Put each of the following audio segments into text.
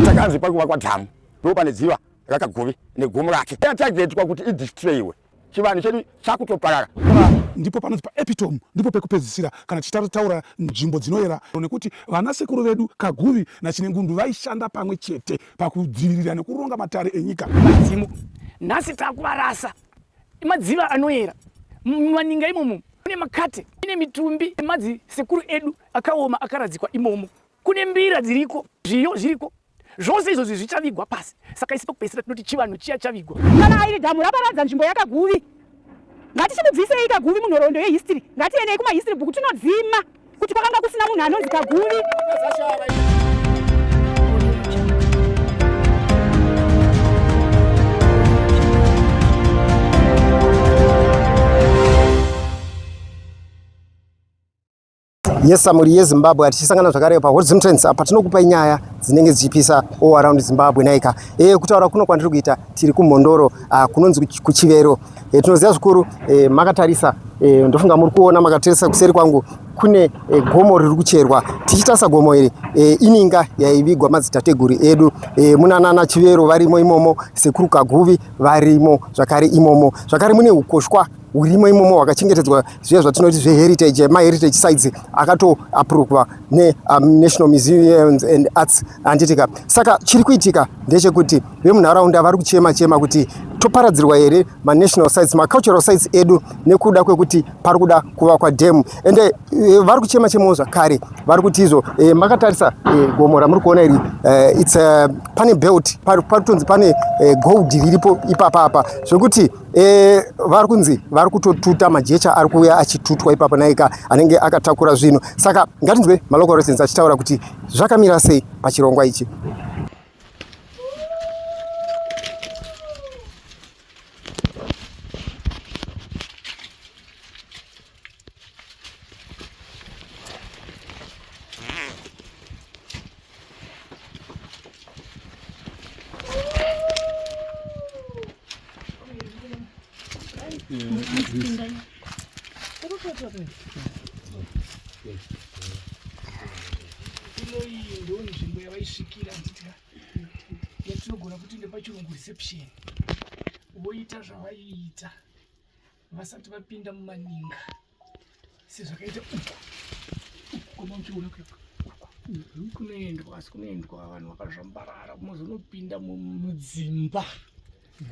Takanzi pari kuvakwa dhamu ndipo pane dziva rakagove negomo rake yatagetwa kuti idistroyiwe chivanhu chedu chakutoparara ndipo panonzi paepitome ndipo pekupedzisira kana tichitaura nzvimbo dzinoyera nekuti vana sekuru vedu kaguvi nachinengundu vaishanda pamwe chete pakudzivirira nekuronga matare enyika madzimu nhasi takuvarasa madziva anoyera mumaninga imomo kune makate ine mitumbi emadzi sekuru edu akaoma akaradzikwa imomo kune mbira dziriko zviyo zviriko zvose izvozvi zvichavigwa pasi saka isi pakupedzisira tinoti chivanhu chiya chavigwa kana airi dhamu raparadza nzvimbo yakaguvi ngatichimubvisei kaguvi munhoroondo yehistory ngatienei kumahistory bhuku tinodzima kuti kwakanga kusina munhu anonzi kaguvi Yes, muri yeZimbabwe atichisangana zvakare pa Hot Zimtrends apa tinokupai nyaya dzinenge dzichipisa all around Zimbabwe naika. Eh kutaura kuno kwandiri kuita tiri kuMhondoro uh, kunonzi kuChivero. Eh tinoziva zvikuru eh, makatarisa eh, ndofunga muri kuona makatarisa kuseri kwangu kune eh, gomo riri kucherwa tichitasa gomo iri eh, ininga yaivigwa madzitateguru edu eh, muna nana Chivero varimo imomo sekuru Kaguvi varimo zvakare imomo zvakare mune ukoshwa hurimo imomo hwakachengetedzwa zviya zvatinoti zveheritage maheritage sites akatoapruvwa nenational um, museums and arts handitika saka chiri kuitika ndechekuti vemunharaunda vari kuchema chema kuti toparadzirwa here manational sites macultural sites edu nekuda kwekuti pari kuda kuvakwa dhemu ende eh, vari kuchema chemawo zvakare vari kuti izvo eh, makatarisa eh, gomo ramuri kuona iri its pane belt pari kutonzi pane gold riripo ipapa apa zvekuti E, vari kunzi vari kutotuta majecha ari kuuya achitutwa ipapo naika anenge akatakura zvinhu saka ngatinzwe malocal residents achitaura kuti zvakamira sei pachirongwa ichi inoiyi ndo nzvimbo yavaisvikira nditya yatinogona kuti ndepachirungu reception voita zvavaiita vasati vapinda mumaninga sezvakaita uku koma uchiona kuyaku mhm. kunoendwa asi kunoendwa vanhu vakazvambarara kumozonopinda mudzimba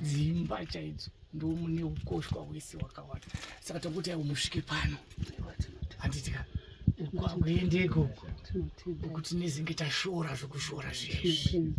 dzimba chaidzo ndo mune ukoshwa hwese hwakawanda saka takuti aiwo musvike pano handitika kwakuendeko kuti nezenge tashora zvekushora zvezvi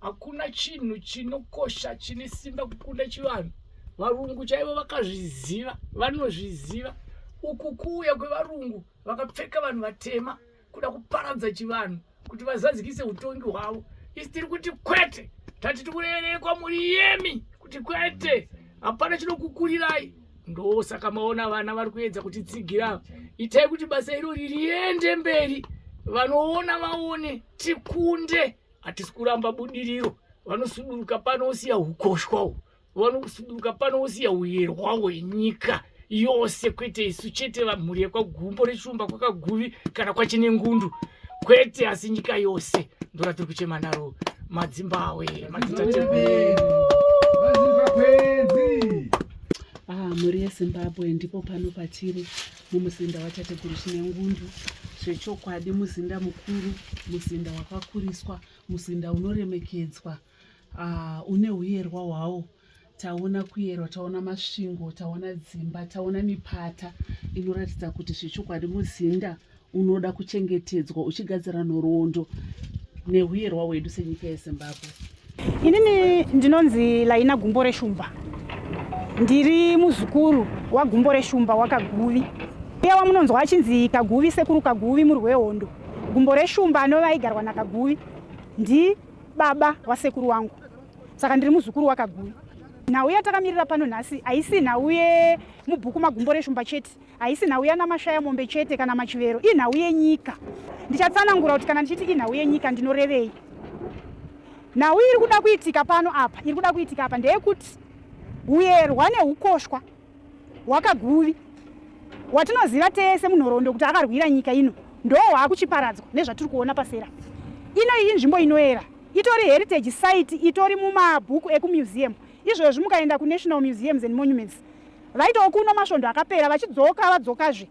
hakuna chinhu chinokosha chine simba kukunda chivanhu varungu chaivo vakazviziva vanozviziva uku kuuya kwevarungu vakapfeka vanhu vatema kuda kuparadza chivanhu kuti vazadzikise utongi hwavo isi tiri kuti kwete tati tikurerekwa muri yemi kuti kwete hapana chinokukurirai ndosaka maona vana vari kuedza kuti tsigira itai kuti basa iro ririende mberi vanoona vaone tikunde hatisi kuramba budiriro vanosuduruka pano usiya ukoshwa u vanosuduruka pano usiya uyerwa hwenyika yose kwete isu chete vamhuri yekwagumbo rechumba kwakaguvi kana kwachine ngundu kwete asi nyika yose ndora tiri kuchema naro madzimbawe madzitatewe ah, mhuri yezimbabwe ndipo pano patiri mumuzinda watateguru chinengundu zvechokwadi muzinda mukuru muzinda wakakuriswa muzinda unoremekedzwa uh, une uyerwa hwawo taona kuyerwa taona masvingo taona dzimba taona mipata inoratidza kuti zvechokwadi muzinda unoda kuchengetedzwa uchigadzira nhoroondo neuyerwa hwedu senyika yezimbabwe Inini ndinonzi Laina Gumbo Reshumba, ndiri muzukuru waGumbo Reshumba wakaguvi uye wamunonzwa achinzi Kaguvi, sekuru Kaguvi murwi wehondo. Gumbo Reshumba anova aigarwa naKaguvi ndibaba wasekuru wangu, saka ndiri muzukuru wakaguvi. Nhau yatakamirira pano nhasi haisi nhau yemubhuku maGumbo Reshumba chete. Haisi nhau yanamashaya mombe chete kana machivero, inhau yenyika. Ndichatsanangura kuti kana ndichiti inhau yenyika ndinorevei. Nhau iri kuda kuitika pano apa, iri kuda kuitika apa ndeyekuti huyerwa neukoshwa hwakaguvi watinoziva tese munhoroondo kuti akarwira nyika ino ndoo hwakuchiparadzwa nezvatiri kuona pasera ino iyi nzvimbo inoera itori heritage site itori mumabhuku ekumuseum izvozvi mukaenda kunational museums and monuments Vaitawo kuno masvondo akapera vachidzoka vadzokazve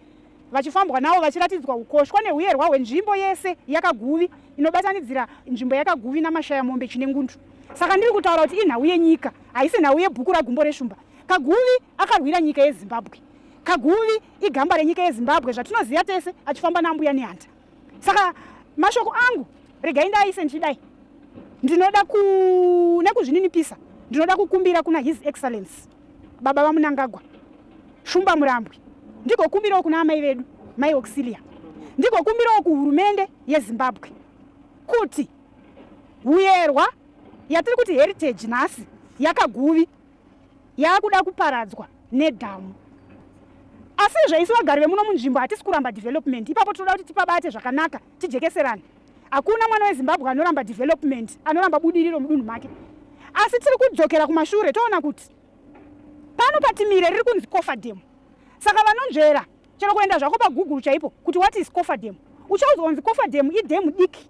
vachifambwa navo vachiratidzwa ukoshwa nehuyerwa hwenzvimbo yese yakaguvi inobatanidzira nzvimbo yakaguvi namashaya mombe chinengundu saka ndiri kutaura kuti inhau yenyika haisi nhau yebhuku ragumbo reshumba kaguvi akarwira nyika yezimbabwe kaguvi igamba renyika yezimbabwe zvatinoziva tese achifamba naambuya nehanda saka mashoko angu regai ndaaise ndichidai ndinoda ku nekuzvininipisa ndinoda kukumbira kuna his excellence baba vamunangagwa shumba murambwi ndigokumbirawo kuna amai vedu mai auxilia ndigokumbirawo kuhurumende yezimbabwe kuti huyerwa yatiri kuti heritage nhasi yakaguvi yaakuda kuparadzwa nedhamu asi izvo isu vagari vemuno munzvimbo hatisi kuramba development ipapo tinoda kuti tipabate zvakanaka tijekeserane hakuna mwana wezimbabwe anoramba development anoramba budiriro mudunhu make asi tiri kudzokera kumashure toona kuti pano patimire riri kunzi kofa demo saka vanonzvera Chero kuenda zvako pagoogle chaipo kuti what is cofer dam uchaudzwa kunzi cofer dam idhemu diki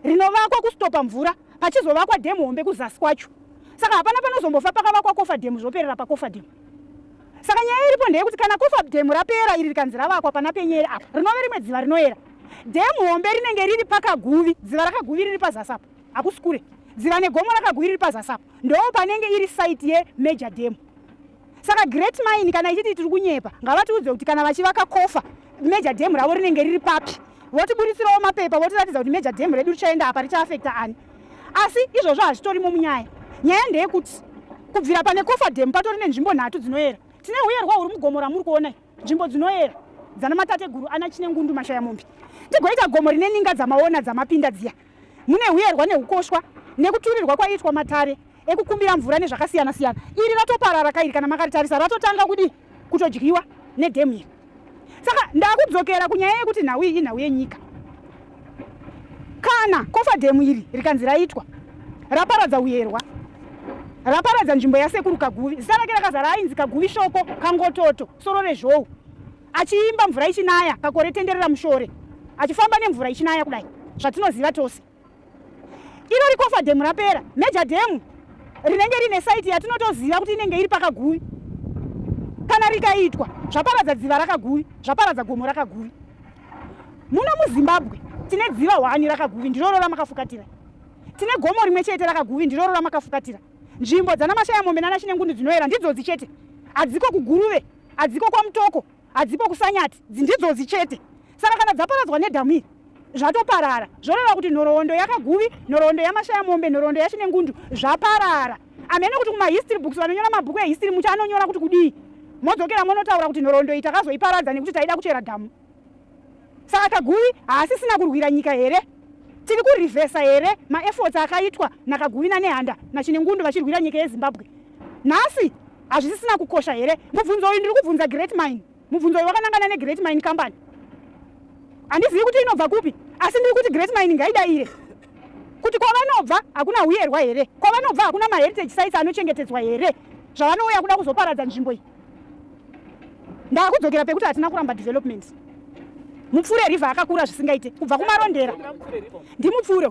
rinovakwa kustopa mvura pachizovakwa dhemu hombe kuzasi kwacho saka hapana panozombofa pakavakwa cofer dam zvoperera pacofer dam saka nyaya iripo ndeyekuti kana cofer dam rapera iri rikanzi ravakwa pana penyere apa rinove rimwe dziva rinoera dhemu hombe rinenge riri pakaguvi dziva rakaguvi riri pazasi apo hakusi kure dziva negomo rakaguvi riri pazasi apo ndoo panenge iri site yemajor dam saka great mine kana ichiti tiri kunyepa ngavatiudze kuti kana vachivaka kofa major dam ravo rinenge riri papi votiburitsirawo mapepa votiratidza kuti major dam redu richaenda apa richaafekta ani asi izvozvo hazvitorimo munyaya nyaya ndeyekuti kubvira pane kofa dam patori nenzvimbo nhatu dzinoyera tine uyerwa huri mugomo ramuri kuonai nzvimbo dzinoyera dzana matateguru ana chinengundu mashaya mombe tigoita gomo rine ninga dzamaona dzamapinda dziya mune huyerwa neukoshwa nekuturirwa kwaiitwa matare ekukumbira mvura nezvakasiyana siyana iri ratoparara kairi kana makaritarisa ratotanga kudii kutodyiwa nedhemu iri saka ndakudzokera kunyaya yekuti nhau iyi inhau yenyika kana kofa dhemu iri rikanzi raitwa raparadza uyerwa raparadza nzvimbo yasekuru kaguvi zita rake rakazara ainzi kaguvi shoko kangototo soro rezhou achiimba mvura ichinaya kakore tenderera mushore achifamba nemvura ichinaya kudai zvatinoziva tose iro rikofa dhemu rapera major dhemu rinenge rine saiti yatinotoziva kuti inenge iri pakaguvi kana rikaitwa zvaparadza dziva rakaguvi zvaparadza gomo rakaguvi muno muzimbabwe tine dziva hwani rakaguvi ndiroro ramakafukatira tine gomo rimwe chete rakaguvi ndiroro ramakafukatira nzvimbo dzana mashaya mombe nana chinengundu dzinoyera ndidzodzi chete hadziko kuguruve hadziko kwamutoko hadzipo kusanyati dzindidzodzi chete saka kana dzaparadzwa nedhamu iri zvatoparara zvoreva kuti nhoroondo yakaguvi nhoroondo yamashaya mombe nhoroondo yachine ngundu zvaparara amene kuti kumahistory books vanonyora mabhuku ehistory muti anonyora kuti kudii modzokera monotaura kuti nhoroondo iyi takazoiparadza nekuti taida kuchera dhamu Saka Kaguvi haasisina kurwira nyika here? Tiri kurivhesa here maefforts akaitwa naKaguvi naNehanda naChinengundu vachirwira nyika yeZimbabwe? Nhasi hazvisisina kukosha here? Mubvunzo uyu ndiri kubvunza Great Mine. Mubvunzo uyu wakanangana neGreat Mine Company. Handizivi kuti inobva kupi, asi ndiri kuti Great Mine ngaidaire kuti kwavanobva hakuna huyerwa here? Kwavanobva hakuna maheritage sites anochengetedzwa here zvavanouya kuda kuzoparadza nzvimbo iyi? ndakudzokera pekuti hatina kuramba development mupfure river akakura zvisingaite kubva kumarondera ndimupfure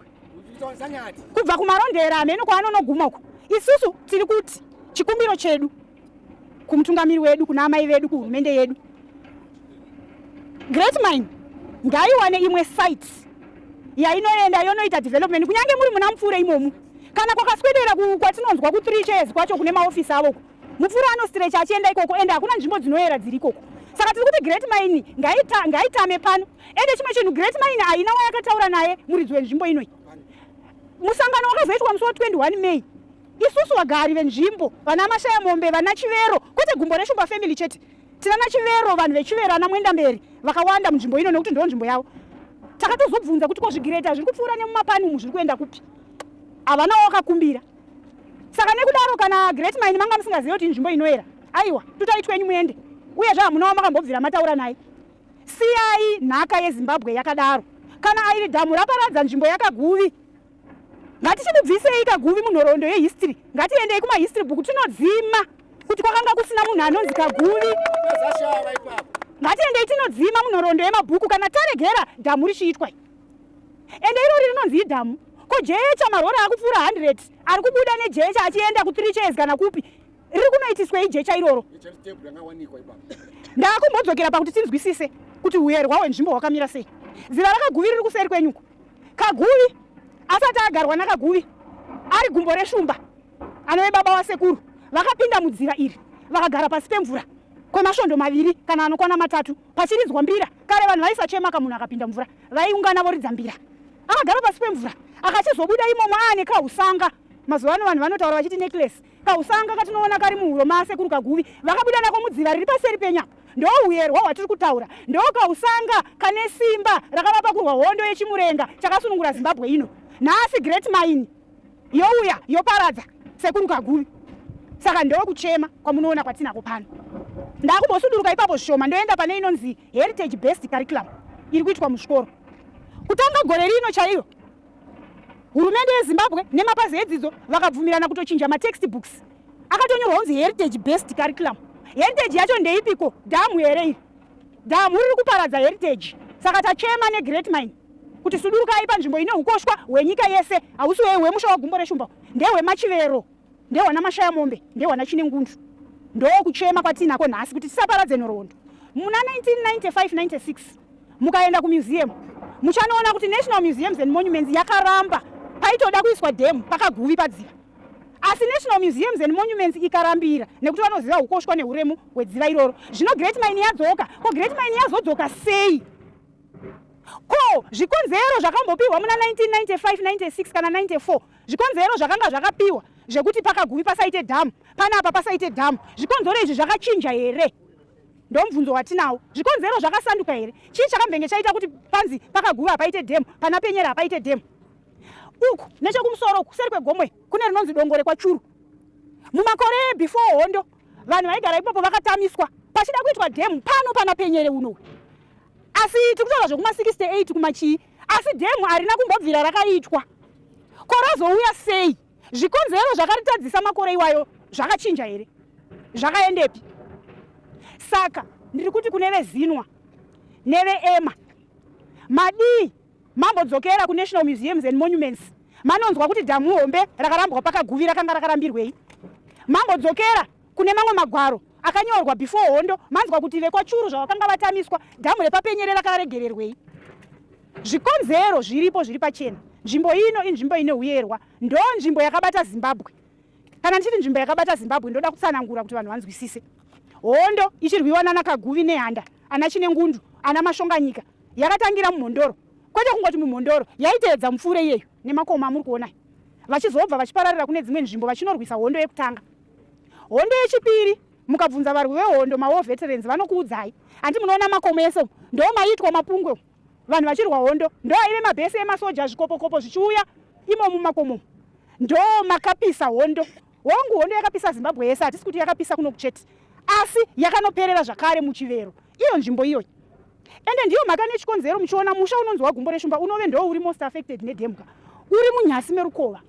kubva kumarondera hameno kwaanonoguma uko isusu tiri kuti chikumbiro chedu kumutungamiri wedu kuna amai vedu kuhurumende yedu great mine ngaiwane imwe site yainoenda yonoita development kunyange muri muna mupfure imomu kana kwakaswedera kwatinonzwa kutree chairs kwacho kune maofisi avo mupfuri anostrecha achienda ikoko ende hakuna nzvimbo dzinoyera dziri ikoko saka tiri kuti great mine ngaitame pano ende chimwe chinhu great mine haina wayakataura naye muridzi wenzvimbo inoi musangano wakazoitwa musi wa 21 may isusu vagari venzvimbo vana mashaya mombe vana chivero kwete gumbo reshumba family chete tinana chivero vanhu vechivero ana muenda mberi vakawanda munzvimbo ino nekuti ndoo nzvimbo yavo takatozobvunza kuti kozvigireta zviri kupfuura nemumapani umu zviri kuenda kupi havana wakakumbira saka nekudaro kana great mine manga musingazive kuti inzvimbo inoera aiwa tutai twenyu muende uye zve hamunawo makambobvira mataura naye siyai nhaka yezimbabwe yakadaro kana airi dhamu raparadza nzvimbo yakaguvi ngatichimubvisei kaguvi munhoroondo yehistory ngatiendei kumahistory book tinodzima kuti kwakanga kusina munhu anonzi kaguvi ngatiendei tinodzima munhoroondo yemabhuku kana taregera dhamu richiitwa ende irori rinonzi idhamu ko jecha marori akupfuura 100 ari kubuda nejecha achienda kuthree chairs kana kupi riri kunoitiswei jecha iroro ndakumbodzokera pakuti tinzwisise kuti uherwa hwenzvimbo hwakamira sei ziva rakaguvi riri kuseri kwenyuko kaguvi asati agarwa nakaguvi ari gumbo reshumba anove baba wasekuru vakapinda mudziva iri vakagara pasi pemvura kwemasvondo maviri kana anokwana matatu Pachiridzwa mbira kare vanhu vaisachema ka munhu akapinda mvura vaiungana voridza mbira. Akagara pasi pemvura akachizobuda imomo aane kausanga. Mazuva ano vanhu vanotaura vachiti necklace. Kausanga katinoona kari muhuro maasekuru kaguvi vakabuda nako mudziva riri paseri penyu apa. Ndohuyerwa hwatiri kutaura. Ndokausanga kane simba rakavapa kurwa hondo yechimurenga chakasunungura Zimbabwe ino. Nhasi Great Mine. youya yoparadza sekuru kagumi saka ndokuchema kwamunoona kwatinako pano ndakumbosuduruka ipapo zvishoma ndoenda pane inonzi heritage best curriculum iri kuitwa muzvikoro kutanga gore rino chaiyo hurumende yezimbabwe nemapazi edzidzo vakabvumirana kutochinja matext books akatonyorwa kunzi heritage best curriculum heritage yacho ndeipiko dhamu here iri Damu riri kuparadza heritage saka tachema neGreat Mine kuti sudurukai panzvimbo ine ukoshwa hwenyika yese hausi hwemusha wagumbo reshumba ndehwemachivero ndehwana mashaya mombe ndehwana chine ngundu ndoo kuchema kwatiinako nhasi kuti tisaparadze nhoroondo muna 1995-96 mukaenda kumuseum muchanoona kuti national museums and monuments yakaramba paitoda kuiswa dhemu pakaguvi padziva asi national museums and monuments ikarambira nekuti vanoziva ukoshwa neuremu hwedziva iroro zvino great mine yadzoka ko great mine yazodzoka sei ko zvikonzero zvakambopiwa muna 199596 kana 94 zvikonzero zvakanga zvakapiwa zvekuti pakagumi pasaite dhamu pane apa pasaite dhamu zvikonzero izvi zvakachinja here ndomubvunzo watinawo zvikonzero zvakasanduka here chii chakambenge chaita kuti panzi pakaguva paite dhemu pana penyera hapaite dhemu uku nechokumusoro uku kuseri kwegomwe kune rinonzi dongo rekwachuru mumakore before hondo vanhu vaigara ipapo vakatamiswa pachida kuitwa dhemu pano pana penyere uno asi tiri kutaura zvekuma 68 kumachii asi dhemu harina kumbobvira rakaitwa ko razouya sei zvikonzero zvakaritadzisa makore iwayo zvakachinja here zvakaendepi saka ndiri kuti kune vezinwa neveema madii Mambo dzokera ku National Museums and Monuments manonzwa kuti dhamu hombe rakarambwa paKaguvi rakanga rakarambirwei. Mambo dzokera kune mamwe magwaro akanyorwa before hondo manzwa kuti vekwaChuru zvavakanga vatamiswa dhamu repaPenyere rakaregererwei. Zvikonzero zviripo zviri pachena. Nzvimbo ino inzvimbo ine huyerwa. Ndoo nzvimbo yakabata Zimbabwe. Kana ndichiti nzvimbo yakabata Zimbabwe ndoda kutsanangura kuti vanhu vanzwisise. Hondo ichirwiwa nana Kaguvi nehanda, ana Chinengundu, ana Mashonganyika yakatangira mumhondoro. Kwete kungoti mumhondoro, yaiteedza mupfuure iyeyo nemakomo amuri kuona. Vachizobva vachipararira kune dzimwe nzvimbo vachinorwisa hondo yekutanga. Hondo yechipiri mukabvunza varwi vehondo mawo veterans vanokuudzai. Hanti munoona makomo ese ndomaitwa mapungwe. vanhu vachirwa hondo ndoaive mabhesi emasoja zvikopokopo zvichiuya imo mumakomo ndo makapisa hondo hongu hondo yakapisa zimbabwe yese hatisi kuti yakapisa kuno kuchete asi yakanoperera zvakare muchivero iyo nzvimbo iyoyi ende ndiyo mhaka nechikonzero muchiona musha unonzi wagumbo reshumba unove ndo uri most affected nedemka uri munyasi merukova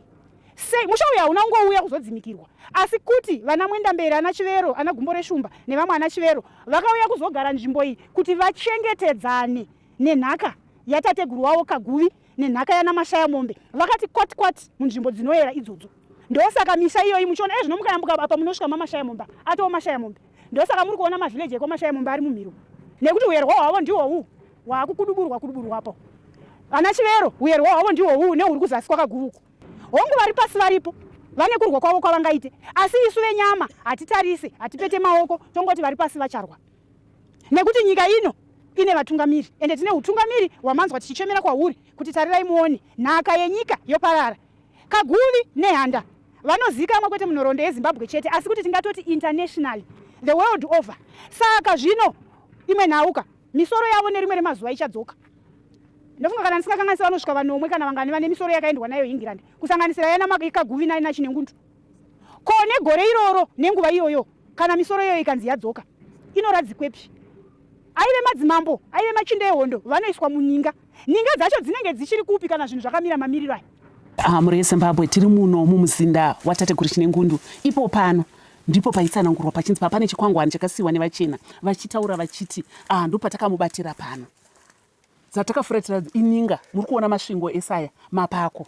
sei musha uyu hauna kungouya kuzodzimikirwa asi kuti vana mwendamberi ana chivero ana gumbo reshumba nevamwe ana chivero vakauya kuzogara nzvimbo iyi kuti vachengetedzane nenhaka yatateguru wavo kaguvi nenhaka yana mashaya mombe vakati kwati kwati munzvimbo dzinoyera idzodzo ndosaka misha iyoyi muchiona ezvino eh, mukayambuka apa munosvika mamashaya mombe atoo mashaya mombe ndosaka muri kuona mavhileji ekwamashaye mumba ari mumhiro nekuti uyerwa hwavo ndiwo huu hwaakukuduburwa kuduburwapo ana chivero uyerwa hwavo ndiwo huu nehuri kuzasi kwakaguvuku hongu vari pasi varipo vane kurwa kwavo kwavangaite asi isu venyama hatitarise hatipete maoko tongoti vari pasi vacharwa nekuti nyika ino ine vatungamiri ende tine utungamiri hwamanzwa tichichemera kwahuri kuti tarirai muone nhaka yenyika yoparara Kaguvi Nehanda vanozikamwa kwete munhoroondo yeZimbabwe chete asi kuti tingatoti internationally the world over. Saka zvino imwe nhauka misoro yavo nerimwe remazuva ichadzoka. Ndofunga kana ndisingakanganisira vanosvika vanomwe kana vangani vane misoro yakaendwa nayo England kusanganisira yana Kaguvi naina Chinengundu. Ko negore iroro nenguva iyoyo kana misoro iyoyo ikanzi yadzoka inoradzikwepi? Aive madzimambo, aive machinda ehondo vanoiswa muninga. Ninga dzacho dzinenge dzichiri kupi kana zvinhu zvakamira mamiriro aya? Ah, mhuri yeZimbabwe tiri muno mumuzinda watateguru Chinengundu ipo pano ndipo paitsanangurwa pachinzi papane chikwangwani chakasiyiwa nevachena vachitaura vachiti ah, ndo patakamubatira pano dzatakafuratira ininga muri kuona masvingo esaya mapako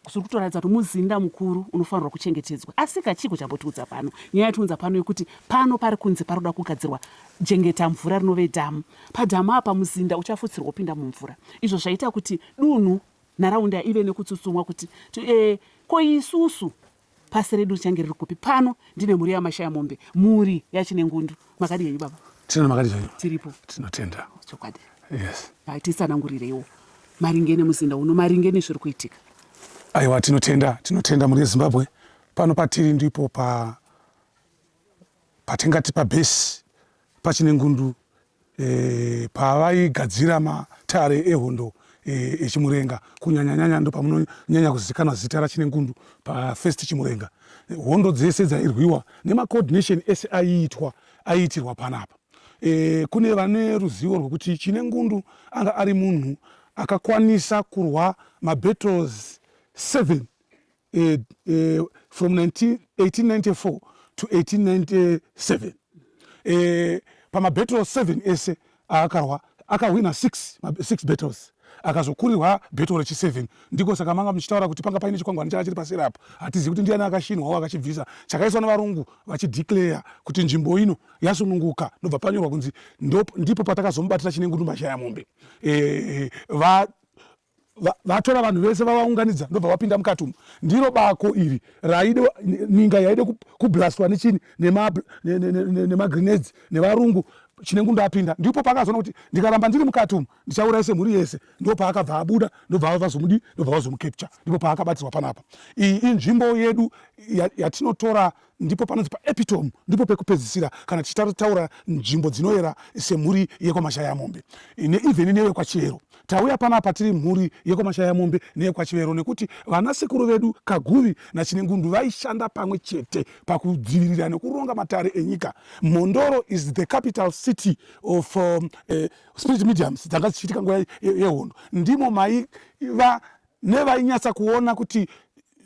zviri kutoratidza kuti muzinda mukuru unofanirwa kuchengetedzwa asi kachiko chambotiudza pano nyaya yatiunza pano yekuti pano pari kunze pari kuda kugadzirwa jengeta mvura rinove dhamu padhamu apa muzinda uchafutsirwa upinda mumvura izvo zvaita kuti dunhu nharaunda ive nekutsutsumwa kuti e, ko isusu Pasi redu richange riri kupi? Pano ndine mhuri yamashaya mombe, mhuri yachinengundu. Makadi henyu baba? Tino makadi zvenyu? Tiripo. Tinotenda. Chokwadi. Yes. Tisanangurireiwo maringe nemuzinda uno, maringe nezviri kuitika. Aiwa, tinotenda, tinotenda mhuri yeZimbabwe. Pano patiri ndipo pa patingati pabhesi pachine ngundu e, pavaigadzira matare ehondo e, echimurenga kunyanyanyanya ndo pamunonyanya kuzivikanwa zita rachine ngundu pafirst chimurenga hondo dzese dzairwiwa nemacoordination ese aiitwa aiitirwa panapa e, kune vane ruzivo rwekuti chine ngundu anga ari munhu akakwanisa kurwa mabattles 7 eh, eh, from 19, 1894 to 1897 eh, pamabattle 7 ese aakarwa akahwina 6 6 battles akazokurirwa beto rechi7 ndiko saka manga muchitaura kuti panga paine chikwangwani changa chiri paseri apo hatizivi kuti ndiani akashinwawo akachibvisa chakaiswa nevarungu vachideclare kuti nzvimbo ino yasununguka ndobva panyorwa kunzi ndipo patakazomubatira chinengundumba chaya mombe e, va vatora vanhu vese vavaunganidza ndobva vapinda mukati umu ndiro bako iri raide ninga yaide kublastwa nechini nemagrenades nevarungu chinengu ndapinda ndipo paakazoona kuti ndikaramba ndiri mukati umu ndichauraise mhuri yese ndo paakabva abuda ndobva vazomudi ndobva vazomukepture ndipo paakabatirwa panapa iyi inzvimbo yedu yatinotora ndipo panonzi paepitome ndipo pekupedzisira kana tichitaura nzvimbo dzinoyera semhuri yekwamashayamombe neivheni nevekwachivero tauya panapa tiri mhuri yekwamashayamombe neyekwachivero nekuti vana sekuru vedu kaguvi nachinengundu vaishanda pamwe chete pakudzivirira nekuronga matare enyika mhondoro is the capital city of um, uh, spirit mediums dzanga dzichiitika nguva yehondo ndimo maiva nevainyatsa kuona kuti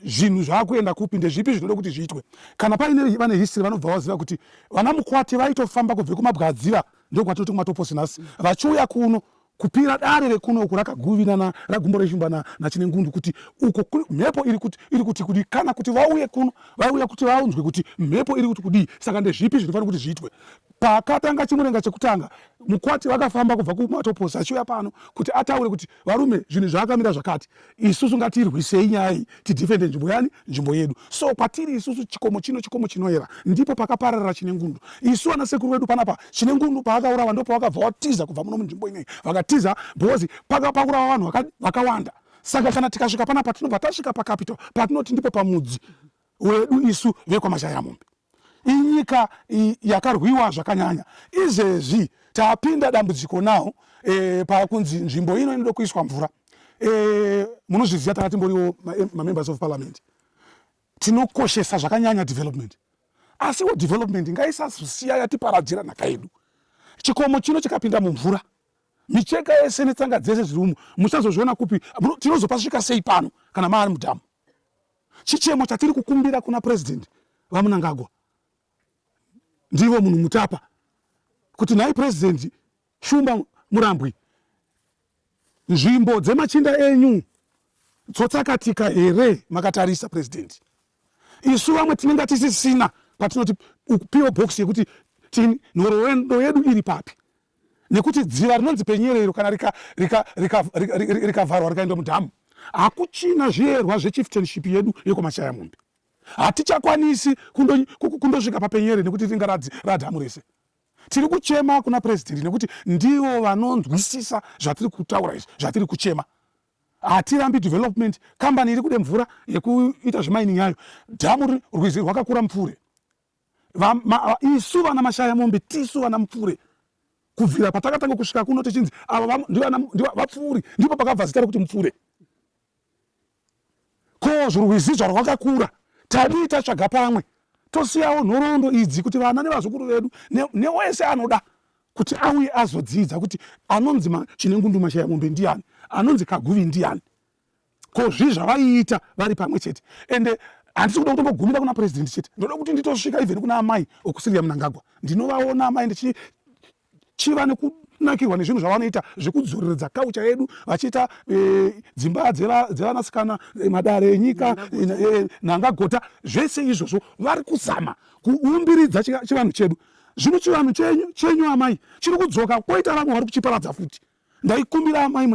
zvinhu zvaakuenda kupi ndezvipi zvinoda kuti zviitwe kana paine vane history vanobva vaziva kuti vana mukwati vaitofamba kubve kumabwadziva ndokwatinoti kumatoposi nhasi vachiuya kuno kupira dare rekuno uku rakaguvinana ragumbo reshumba nachine ngundu kuti uko mhepo iri kuti kudii kana kuti vauye kuno vauya kuti vaunzwe kuti mhepo iri kuti kudii saka ndezvipi zvinofanira kuti zviitwe Paakatanga chimurenga chekutanga, mukwati vakafamba kubva kumatoposi achiuya pano kuti ataure kuti varume zvinhu zvaakamira zvakati, isusu ngatirwisei nyaya iyi tidhifende nzvimbo yani, nzvimbo yedu. So kwatiri isusu chikomo chino chikomo chinoyera, ndipo pakapararira Chinengundu. Isu vana sekuru vedu panapa, Chinengundu paakaurawa ndipo pavakabva vatiza kubva muno munzvimbo inei, vakatiza because paka paurawa vanhu vakawanda. Saka kana tikasvika panapa tinobva tasvika pacapital patinoti ndipo pamudzi wedu isu vekwaMashayamombe. inyika yakarwiwa zvakanyanya izvezvi tapinda dambudziko now e, eh, pakunzi nzvimbo ino inoda kuiswa mvura e, munozviziva tanga timboriwo mamembers of parliament tinokoshesa zvakanyanya development asiwo development ngaisazosiya yatiparadzira nhaka yedu chikomo chino chikapinda mumvura micheka yese netsanga dzese zviri umu musazozviona kupi tinozopasvika sei pano kana maari mudhamu Chichemo chatiri kukumbira kuna President VaMnangagwa ndivo munhu mutapa kuti nhai President Shumba Murambwi, nzvimbo dzemachinda enyu tsotsakatika here makatarisa President? Isu vamwe tinenge tisisina patinoti upiwo box yekuti tinhorowendo yedu iri papi nekuti dziva rinonzi penyere iro kana rikavharwa rikaenda mudhamu hakuchina zviyerwa zvechieftainship yedu yekwamachaya mombe hatichakwanisi kundosvika papenyere nekuti ringa radhamu rese tiri kuchema kuna purezidendi nekuti ndivo vanonzwisisa zvatiri kutaura izvi zvatiri kuchema hatirambi development kambani iri kude mvura yekuita zvemaini yayo dhamu rwizi rwakakura mupfuure isu vana mashaya mombe tisu vana mupfure kubvira patakatanga kusvika kuno tichinzi ava vapfuuri ndipo pakabva zita rekuti mupfure ko zvorwizi zvarwakakura tadii tatsvaga pamwe tosiyawo nhoroondo idzi kuti vana nevazukuru vedu newese anoda kuti auye azodzidza kuti anonzi chine ngundu mashaya mombe ndiani anonzi kaguvi ndiani ko zvii zvavaiita vari pamwe chete ende handisi kuda kutongogumira kuna purezidendi chete ndoda kuti nditosvika even kuna amai okusiria munangagwa ndinovaona amai ndichiva nekunakirwa nezvinhu zvavanoita zvekudzoreredza kaucha yedu vachiita eh, dzimba dzevanasikana eh, madare enyika eh, nangagota zvese izvozvo vari kuzama kuumbiridza chivanhu chedu zvino chivanhu chenyu amai chiri kudzoka kwoita vamwe vari kuchiparadza futi Ndaikumbira amai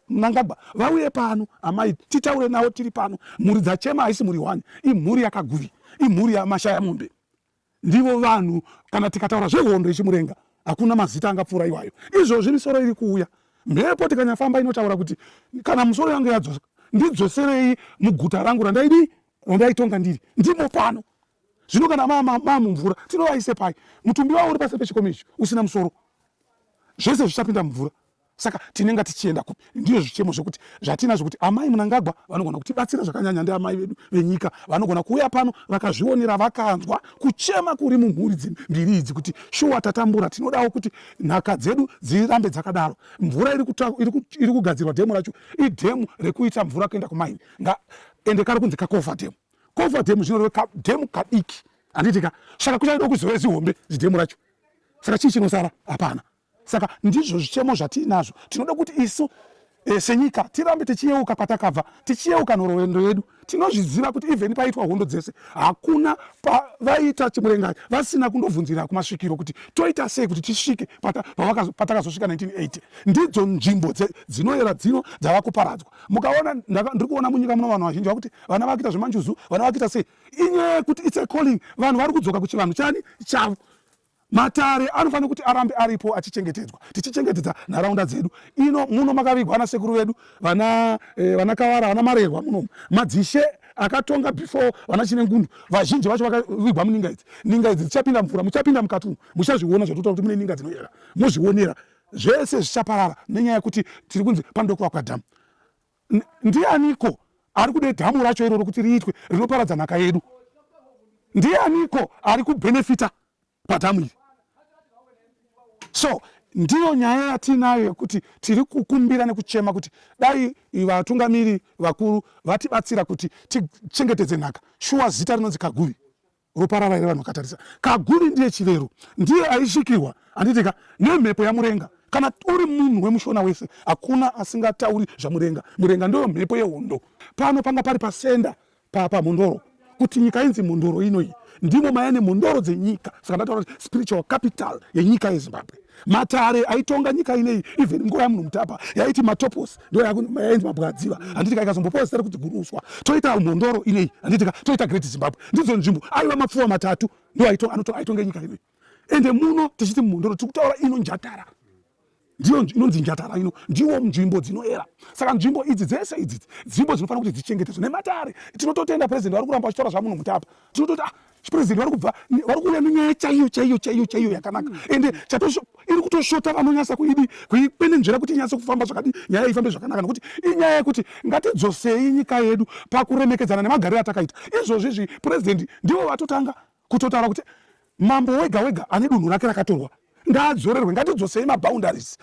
Mnangagwa vauye pano amai titaure navo tiri pano. Mhuri dzachema haisi mhuri one, imhuri yakaguvi, imhuri yamashaya mombe. Ndivo vanhu kana tikataura zvehondo yechimurenga hakuna mazita angapfuura iwayo. Izvozvi misoro iri kuuya mhepo tikanyafamba inotaura kuti kana musoro yange yadzosa ndidzoserei muguta rangu randaidi randaitonga ndiri ndimo pano Zvino kana maamumvura tinovaise pai? Mutumbi wavo uri pasi pechikomo ichi usina musoro, zvese zvichapinda mumvura. Saka tinenge tichienda kupi? Ndizvo zvichemo zvekuti zvatina zvekuti amai Munangagwa vanogona kutibatsira zvakanyanya. Ndi amai vedu venyika vanogona kuuya pano vakazvionera vakanzwa kuchema kuri mumhuri mbiri idzi kuti shuwa tatambura, tinodawo kuti nhaka dzedu dzirambe dzakadaro. Mvura iri kugadzirwa dhemu racho idhemu rekuita mvura kuenda kumaini ende kari kunzi kakova dhemu. kova dhemu zvinoreva kadhemu kadiki handiitika saka kuchaido kuzove zihombe zidhemu racho saka chii chinosara hapana saka ndizvo zvichemo zvatiinazvo tinoda kuti isu e, senyika tirambe tichiyeuka kwatakabva tichiyeuka nhorowendo yedu tinozviziva kuti even paitwa hondo dzese hakuna pavaita chimurengai vasina kundobvunzira kumasvikiro kuti toita sei kuti tisvike patakazosvika 1980 ndidzo nzvimbo dzinoyera dzino dzava kuparadzwa mukaona ndiri kuona munyika muno vanhu vazhinji vakuti vana vakuita zvemanjuzu vana vakuita sei inyaya yekuti its a calling vanhu vari kudzoka kuchivanhu chani chavo matare anofanira kuti arambe aripo achichengetedzwa tichichengetedza nharaunda dzedu ino muno makavigwa ana sekuru vedu vana eh, vana kavara vana marerwa munomu madzishe akatonga before vana chine ngundu vazhinji vacho vakavigwa muninga idzi ninga idzi dzichapinda mvura muchapinda mukati umu muchazviona zvatotaura kuti mune ninga dzinoyera mozvionera Zvese zvichaparara nenyaya yekuti tiri kunzi panoda kuvakwa dhamu. Ndianiko ari kude dhamu racho iroro kuti riitwe rinoparadza nhaka yedu? Ndianiko ari kubhenefita padhamu iri? So ndiyo nyaya yatiinayo yekuti tiri kukumbira nekuchema kuti dai vatungamiri vakuru vatibatsira kuti tichengetedze nhaka. Shuwa zita rinonzi Kaguvi. ropa ravaire vanhu vakatarisa kagumi ndiye chivero ndiye aisvikirwa handitika nemhepo yamurenga kana uri munhu wemushona wese hakuna asingatauri zvamurenga murenga ndoyo mhepo yehondo pano panga pari pasenda pamhondoro kuti nyika inzi mhondoro inoyi ndimo maya nemhondoro dzenyika saka ndataura kuti spiritual capital yenyika yezimbabwe matare aitonga nyika ineyi even nguva yamunhu mutapa yaiti matopos ndiyo yakunzi mabwadziva handiti ka ikazombopawo zita rekuti guruswa toita mhondoro inei handiti ka toita great zimbabwe ndidzo nzvimbo aiva mapfuwa matatu ndo aitonge nyika inoi ende muno tichiti mhondoro tiri kutaura ino njatara ndiyo inonzi njatara ino ndiwo nzvimbo dzinoera saka nzvimbo idzi dzese idzi nzvimbo dzinofanira kuti dzichengetedzwe nematare tinototenda president vari kuramba vachitaura zvamuno mutapa tinototi ah, chipresident vari kubva vari kuuya nenyaya chaiyo chaiyo chaiyo chaiyo yakanaka mm. ende iri kutosvota vanonyasa kuidi kuikwenenzvera kuti inyase kufamba zvakadi nyaya ifambe zvakanaka nokuti inyaya yekuti ngatidzosei nyika yedu pakuremekedzana nemagariro atakaita izvozvi izvi president ndivo vatotanga kutotaura kuti mambo wega wega ane dunhu rake rakatorwa ngaadzorerwe ngatidzosei maboundaries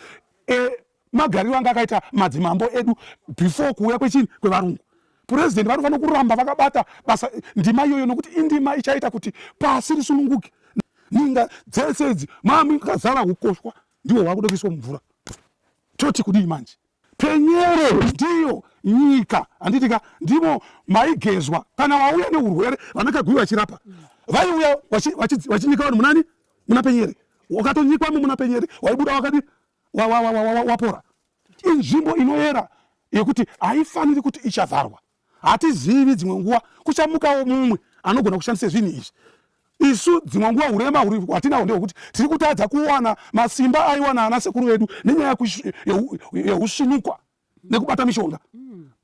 e, magariro anga akaita madzimambo edu before kuuya kwechini kwevarungu purezidenti vanofanira kuramba vakabata basa ndima iyoyo nokuti indima ichaita kuti pasi risununguke ninga dzese idzi mami kazara ukoshwa ndiwo hwakuda kuiswa mumvura toti kudii manje penyero ndiyo nyika handitika ndimo maigezwa kana wauya neurwere vanakagui vachirapa vaiuya vachinyika vanhu munani muna penyere wakatonyikwa mu muna penyere waibuda wakadi wapora inzvimbo inoyera yekuti haifaniri kuti ichavharwa hatizivi dzimwe nguva kuchamukawo mumwe anogona kushandisa zvinhu izvi isu dzimwe nguva urema huri hwatinahwo ndehwekuti tiri kutadza kuwana masimba aiwana ana sekuru vedu nenyaya yeusvinukwa nekubata mishonga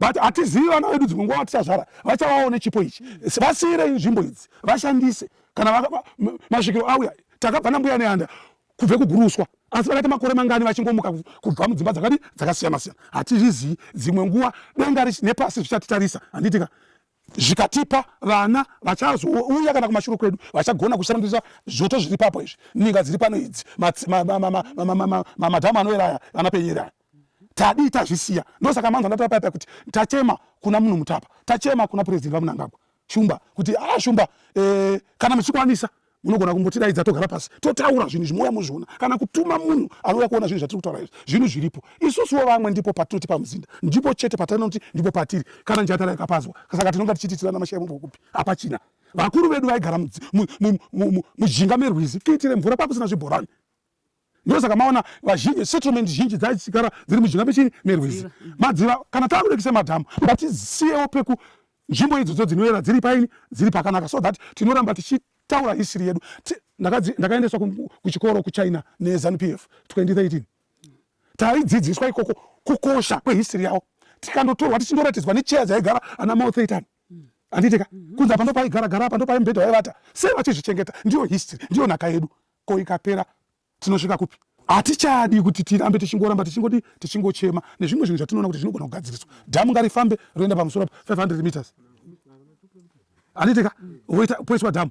but hatizivi vana vedu dzimwe nguva vatichazvara vachavawo nechipo ichi vasiirei nzvimbo idzi vashandise kana masvikiro auya takabva nambuya neanda kubve kuguruswa asi vakaita makore mangani vachingomuka kubva mudzimba dzakadi dzakasiyana siyana hatizvizivi dzimwe nguva denga nepasi zvichatitarisa handitika zvikatipa vana vachazouya kana kumashure kwedu vachagona kushandisa zvoto zviri papo izvi ninga dziri pano idzi madhamu anoera aya vanapenyera aya tadii tazvisiya ndosaka manzwa ndatapaipa kuti tachema kuna munhu mutapa tachema kuna purezidenti vamunangagwa shumba kuti a ah, shumba eh, kana muchikwanisa munogona kumbotiraidza togara pasi totaura zvinhu zvimouya muzviona kana kutuma munhu anouya kuona zvinhu zvatiri kutaura izvi zvinhu zviripo isusuwo vamwe ndipo patinoti pamuzinda ndipo chete patinoti ndipo patiri kana njatara yakapazwa saka tinonga tichititirana mashaya mumbo kupi hapachina vakuru vedu vaigara mujinga merwizi kuitire mvura pakusina zvibhorani ndosaka maona vazhinji settlement zhinji dzaichigara dziri mujinga mechii merwizi mm. madziva kana takurekisa madhamu ngatisiyewo peku nzvimbo idzodzo dzinoyera dziri paini dziri pakanaka so that tinoramba tichitaura hisiri yedu ndakaendeswa kuchikoro kuchina nezanu p f 2013 taidzidziswa ikoko kukosha kwehisiri yavo tikandotorwa tichindoratidzwa necheya dzaigara ana mao thaitan handitika mm. mm-hmm. kunzi apa ndo paigara gara apa ndo paimubhedha vaivata sei vachizvichengeta ndiyo history ndiyo nhaka yedu Ko ikapera tinosvika kupi? Hatichadi kuti tirambe tichingoramba tichingodi tichingochema nezvimwe zvinhu zvatinoona kuti zvinogona kugadziriswa. Dhamu ngarifambe roenda pamusoro pa 500 meters aniteka woita poiswa dhamu.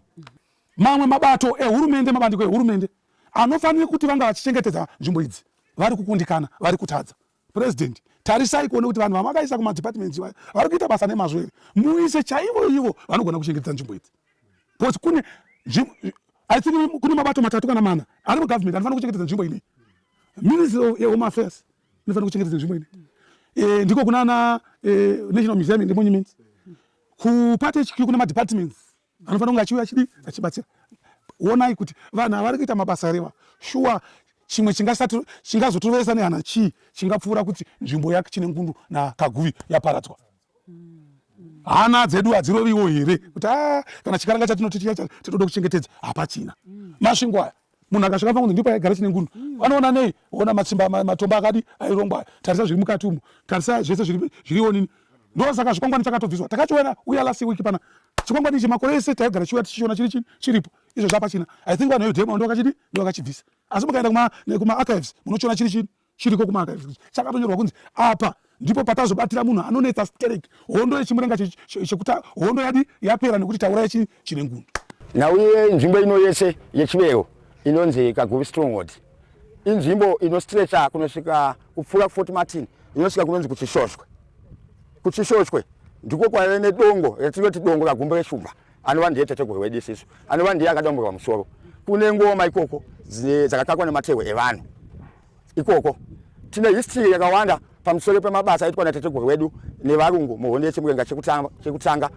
Mamwe mabato ehurumende, mabandiko ehurumende anofanira kuti vanga vachichengetedza nzvimbo idzi vari kukundikana, vari kutadza. President tarisai kuone kuti vanhu vamakaisa kuma departments iwayo vari kuita basa nemazvo here muise chaivo ivo vanogona kuchengetedza nzvimbo idzi because kune i think kune mabato matatu kana mana ari mugovernment anofanira kuchengetedza nzvimbo ine ministry of home affairs inofanira kuchengetedza nzvimbo ine eh, ndiko kunana eh, national museum and monuments kuparty hq kune madepartments anofanira kunge achiuya chidi achibatsira wonai kuti vanhu avari kuita mabasa here va shuwa chimwe chingazotoveresa nehana chii chingapfuura kuti nzvimbo yake chine ngundu nakaguvi yaparadzwa hana dzedu hadziroviwo here kuti a ah, kana chikaranga chatinoti chiya tinoda kuchengetedza hapachina masvingo aya munhu akasvika pangunzi ndipo yaigara chine ngundu vanoona mm. nei ona matsimba matomba akadi airongwa aya tarisa zviri mukati umu tarisa zvese zviriwo nini ndosaka chikwangwani chakatobviswa takachiona uya last week pana chikwangwani ichi makore ese taigara chiuya tichiona chiri chini chiripo izvo zvapachina i think vanhu vedemo ndovakachidi ndovakachibvisa asi mukaenda kumaarchives munochiona chiri chini chiriko kumaka chakatonyorwa kunzi apa ndipo patazobatira munhu anonetsa sterek hondo yechimurenga chekuti hondo yadi yapera nekuti taura yechine nguni nauye nzvimbo ino yese yechivero inonzi kaguvi stronghold inzvimbo inostrecha kunosvika kupfuura kufort martin inosvika kunonzi kuchishoshwe kuchishoshwe ndiko kwaive nedongo ratinoti dongo ragumbo reshumba anova ndiye tateguru wedu isisu anova ndiye akadomborwa musoro kune ngoma ikoko dzakakakwa nematehwe evanhu ikoko tine history yakawanda pamusoro pemabasa aitwa natateguru wedu nevarungu muhondo yechimurenga chekutanga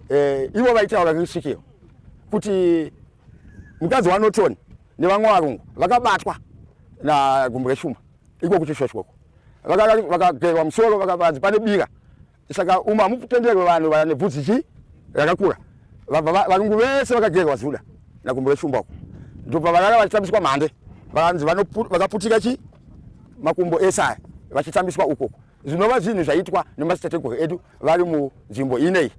eh, ivo vaitaura risvikiro kuti mukadzi wanorton nevamwe varungu vakabatwa nagumbu reshumba iko kuchishoshwoko vakagerwa musoro vakavanzi pane bira saka umu hamutenderwe vanhu vane bvudzi chi rakakura varungu vese vakagerwa zuda nakumbo reshumba uko ndobva varara vachitambiswa mhande vanzi vakaputika chi makumbo ese aya vachitambiswa ukoko zvinova zvinhu zvaitwa nemadzitateguru edu vari munzvimbo inei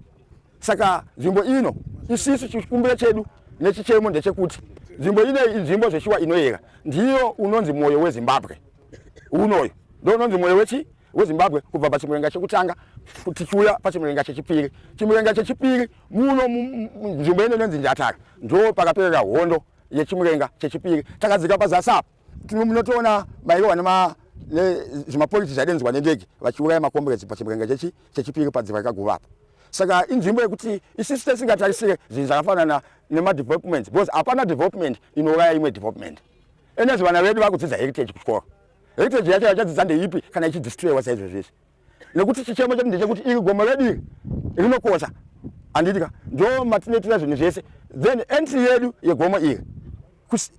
saka nzvimbo ino isisu chikumbiro chedu nechichemo ndechekuti nzvimbo inei inzvimbo zveshuwa inoyera ndiyo unonzi mwoyo wezimbabwe unoyu ndononzi mwoyo wechi wezimbabwe kubva pachimurenga chekutanga tichiuya pachimurenga chechipiri chimurenga chechipiri muno nzvimbo ino inonzi njatara ndo pakaperera hondo yechimurenga chechipiri takadzika pazasi apo munotoona mairowa nema zvimapoliti zvaidenzwa nendege vachiuraya makomburedzi pachimurenga chechi chechipiri padziva rikaguva apo saka inzvimbo yekuti isisi tesingatarisire zvinhu zvakafanana nemadevelopment because hapana development inouraya imwe development Enes vana vedu vakudzidza heritage kuchikoro. Heritage yacho yachadzidza ndeipi kana ichidistroywa saizvezvizvi. Nekuti chichemo chedu ndechekuti iri gomo redu iri rinokosha. Handiti ka ndo matinoitira zvinhu zvese. Then entry yedu yegomo iri.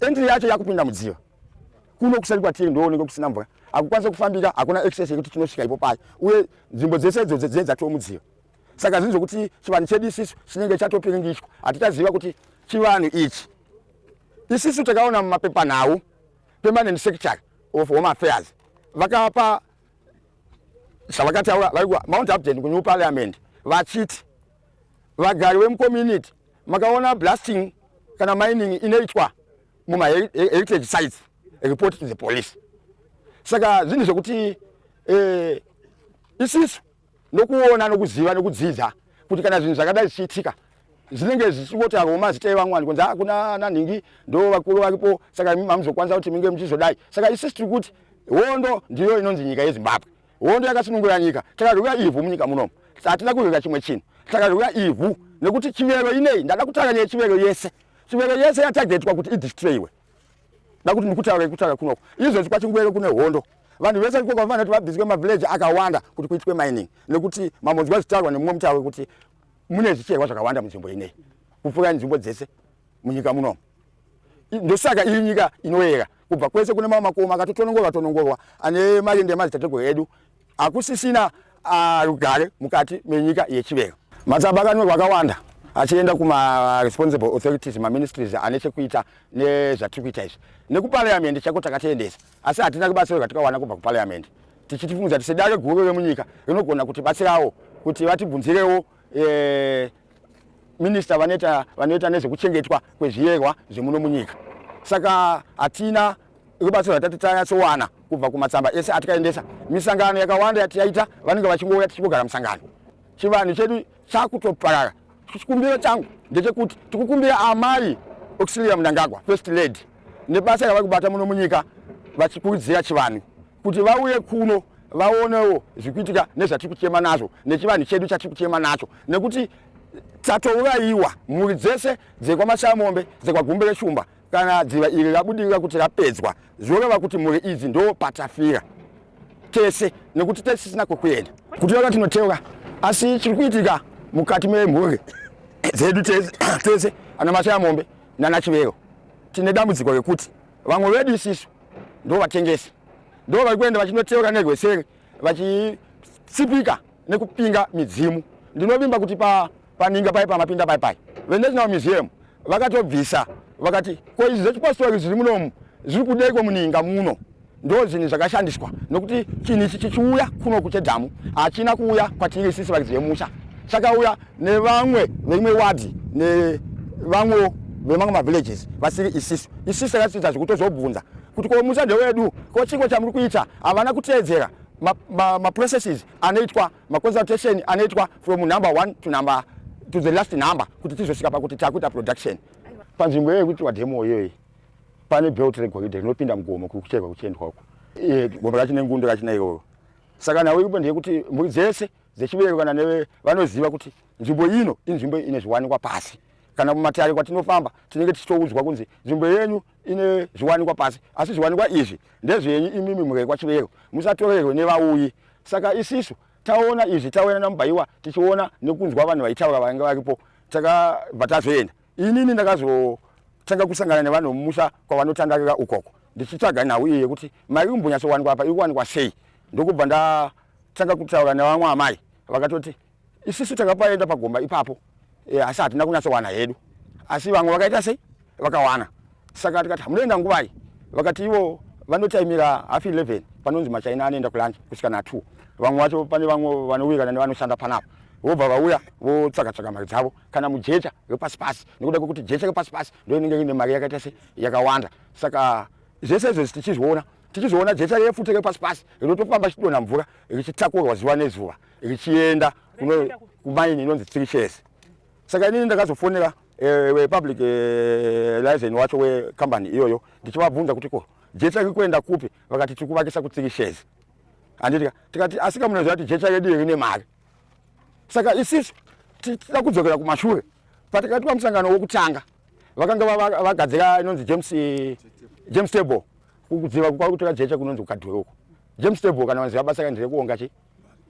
Entry yacho yakupinda mudziva. Kuno kusati kwatiri ndooneka kusina mvura. Hakukwanisa kufambika, hakuna access yekuti tinosvika ipo paye. Uye nzvimbo dzese idzo dzedza tomudziva. saka zvinhu zvokuti chivanhu chedu isisu chinenge chatopiringishwa hatichaziva kuti chivanhu ichi isisu takaona mumapepanhau permanent secretary of home affairs vakapa zvavakataura vaikuwa mount upden kunew parliament vachiti vagari vemucommunity makaona blasting kana mining inoitwa mumaheritage sites report to the police saka zvinhu zvekuti eh, isisu nokuona nokuziva nokudzidza kuti kana zvinhu zvakadai zvichiitika zvinenge zvichingotagwa mazita evamwani kunzi hakuna ana nhingi ndo vakuru vakipo saka imi mamuzokwanisa kuti minge muchizodai saka isisi tiri kuti hondo ndiyo inonzi nyika yezimbabwe hondo yakasunungura nyika takazvikuya ivhu munyika munomu hatina kuzvika chimwe chinhu takazvikuya ivhu nekuti chivero inei ndada kutanga nechivero yese chivero yese yatagetwa kuti idistroyiwe dakuti ndikutaura ikutaura kunoko izvezvi kwachingwere kune hondo vanhu vese ikoko vafana kuti vabviswe mavhileji akawanda kuti kuitwe mining nekuti mamonzwa zvitarwa nemumwe mutauro wekuti mune zvicherwa zvakawanda munzvimbo inei kupfuura nzvimbo dzese munyika munomu ndosaka iri nyika inoyera kubva kwese kune mamwe makomo akatotonongorwa tonongorwa ane marindi emadzitateguru edu hakusisina ah, rugare mukati menyika yechiveyo matsamba akanyorwa akawanda achienda kumaresponsible authorities maministries ane chekuita nezvatiri kuita izvi nekupariamendi chaiko takatiendesa asi hatina kubatsirwa tikawana kubva kupariamendi tichitifungudzira kuti sedare guru remunyika rinogona kutibatsirawo kuti vatibvunzirewo eh, minista vanoita vanoita nezvekuchengetwa kwezviyerwa zvemuno munyika saka hatina rubatsiro ratati tanyatsowana kubva kumatsamba ese atikaendesa misangano yakawanda yatiyaita vanenge vachingouya tichingogara musangano chivanhu chedu chakutoparara chikumbiro changu ndechekuti tikukumbira amai auxilia munangagwa first lady nebasa ravari kubata muno munyika vachikurudzira chivanhu kuti vauye kuno vaonewo zvikuitika nezvatiri kuchema nazvo nechivanhu chedu chatiri kuchema nacho nekuti tatourayiwa mhuri dzese dzekwamashamombe dzekwagumbe reshumba kana dziva iri rabudirira kuti rapedzwa zvoreva kuti mhuri idzi ndo patafira tese nekuti tesisina kwekuenda kuteura tinoteura asi chiri kuitika mukati memhuri dzedu tese ana mashamombe nana chivero tine dambudziko rekuti Vamwe vedu isisu ndo vatengesi ndo vari kuenda vachinoteura nerweseri vachitsipika nekupinga midzimu. Ndinovimba kuti pa paninga pai pamapinda pai pai venational museum vakatobvisa vakati ko izvi zvechipostori zviri munomu zviri kudeiko muninga muno ndo zvinhu zvakashandiswa nokuti chinhu ichi chichiuya kuno kuchedhamu hachina kuuya kwatiri sisi varidzi vemusha chakauya nevamwe veimwe wadhi nevamwewo vemamwe mavillages vasiri isisu isisu takasita zvekutozobvunza kuti ko musande wedu ko chiko chamuri kuita havana kuteedzera maprocesses ma, ma anoitwa maconsultation anoitwa from number one to number to the last number kuti tizosvika pakuti takuita production panzvimbo iyoyo kuti wademo iyoyi pane belt regoridhe rinopinda mugomo kuri kucherwa kuchiendwa uko gombo racho nengundo rachina iyoyo saka nawo ipo ndeyekuti mburi dzese dzechibereko kana neve vanoziva kuti nzvimbo ino inzvimbo ine zviwanikwa pasi kana mumatare kwatinofamba tinenge tichitoudzwa kunzi nzvimbo yenyu ine zviwanikwa pasi asi zviwanikwa izvi ndezvenyu imimi murekwa chibereko musatorerwe nevauyi saka isisu taona izvi tauya namubaiwa tichiona nekunzwa vanhu vaitaura vange varipo takabva tazoenda inini ndakazotanga kusangana nevanhu mumusha kwavanotandarira ukoko ndichitsvaga nhau iyi yekuti mari kumbonyatsowanikwa apa iri kuwanikwa sei ndokubva nda tanga kutaura nevamwe amai vakatoti isusu takapaenda pagomba ipapo eh, asi hatina kunyatsowana hedu asi vamwe vakaita sei vakawana saka tikati hamunoenda nguvai vakati ivo vanotaimira half 11 panonzi machaina anoenda kulanje kusvika na 2 vamwe vacho pane vamwe vanowirana nevanoshanda panapa vobva vauya votsvaga tsvaga mari dzavo kana mujecha repasi pasi nekuda kwekuti jecha repasi pasi ndo inenge ine mari yakaita se yakawanda saka zvese izvozvi tichizviona tichizoona jecha refu tiri pasi pasi rinotofamba richidonha mvura richitakurwa zuva nezuva richienda kumaini inonzi tiri chese saka inini ndakazofonera eh, wepublic eh, license wacho wekambani iyoyo ndichivabvunza kuti ko jecha riri kuenda kupi vakati tiri kuvakisa kutsiri shezi handiti tikati asika munoziva kuti jecha redu rine mari saka isisu tichida kudzokera kumashure patakaitwa musangano wokutanga vakanga vagadzira inonzi james eh, james table kuziva kwakutora jecha kunonzi kukadhuri uko james table kana vanziva basa kanzi rekuonga chi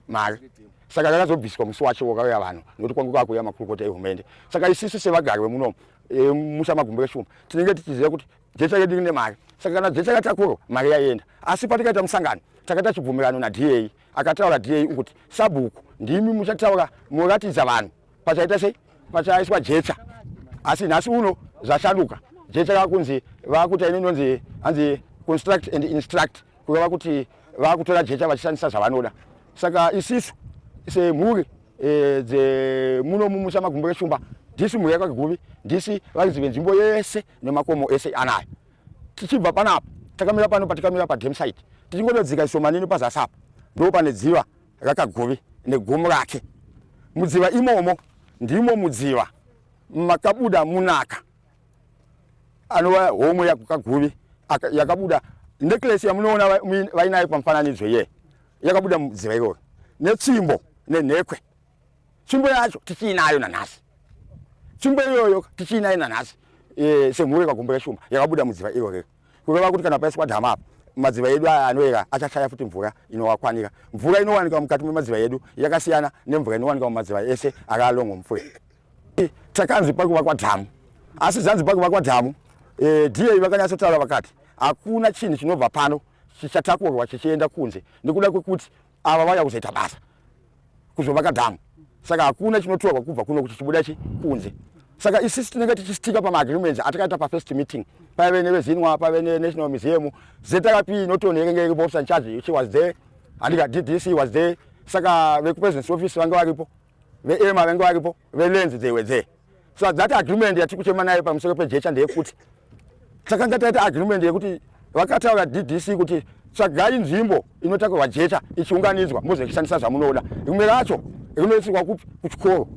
mari saka rakazobviswa musi wacho wakauya vanhu nokuti kwangu kwakuuya makurukota ehurumende saka isisu sevagari vemunomu eh, musa magumbo eshuma tinenge tichiziva kuti jecha redu rine mari saka kana jecha ratakurwa mari yaienda asi patikaita musangano takaita chibvumirano nada akataura dai ukuti sabhuku ndimi muchataura muratidza vanhu pachaita sei pachaiswa jecha asi nhasi uno zvashanduka jecha rakunzi vakuta ine inonzi hanzi construct and instruct kureva kuti vakutora jecha vachishandisa zvavanoda saka isisu semhuri e, dzemuno mumusha magumbo reshumba ndisi mhuri yakagumi ndisi varidzi venzvimbo yese nemakomo ese anayo tichibva panapa takamira pano patikamira padam site tichingododzika ishomanini pazasi apa ndo pane dziva rakagovi negomo rake mudziva imomo ndimo mudziva makabuda munaka anova homwe yakukaguvi yakabuda necklesi yamunoona vainayo pamufananidzo iye yakabuda mudziva iroro netsvimbo nenhekwe tsvimbo yacho tichiinayo nanhasi tsvimbo iyoyo tichiinayo nanhasi e, semhuru yekagombo keshumba yakabuda mudziva iro rero kureva kuti kana paiswa dhama apa madziva edu aya anoera achashaya futi mvura inowakwanira mvura inowanika mukati memadziva edu yakasiyana nemvura inowanika mumadziva ese ari alongo mupfuya takanzi pakuvakwa dhamu asi zvanzi pakuvakwa dhamu e, da vakanyatsotaura vakati hakuna chinhu chinobva pano chichatakurwa chichienda kunze nekuda kwekuti ava vauya kuzoita basa kuzovaka dhamu saka hakuna chinotorwa kubva kuno kuti chibuda chi kunze saka isisi tinenge tichistika pamaagreements atakaita pafirst meeting paive nevezinwa paive nenational museum zrp inoton yekenge iripo officer in charge she was there handika ddc was there saka vekupresidency office vanga varipo veema vange varipo velenzi they were there so at that agreement yatiri kuchema nayo pamusoro pejecha ndeyekuti takanga taita agreement yekuti vakataura ddc kuti tsvagai nzvimbo inotakurwa jecha ichiunganidzwa mozochishandisa zvamunoda rimwe racho rinoisirwa kupi kuchikoro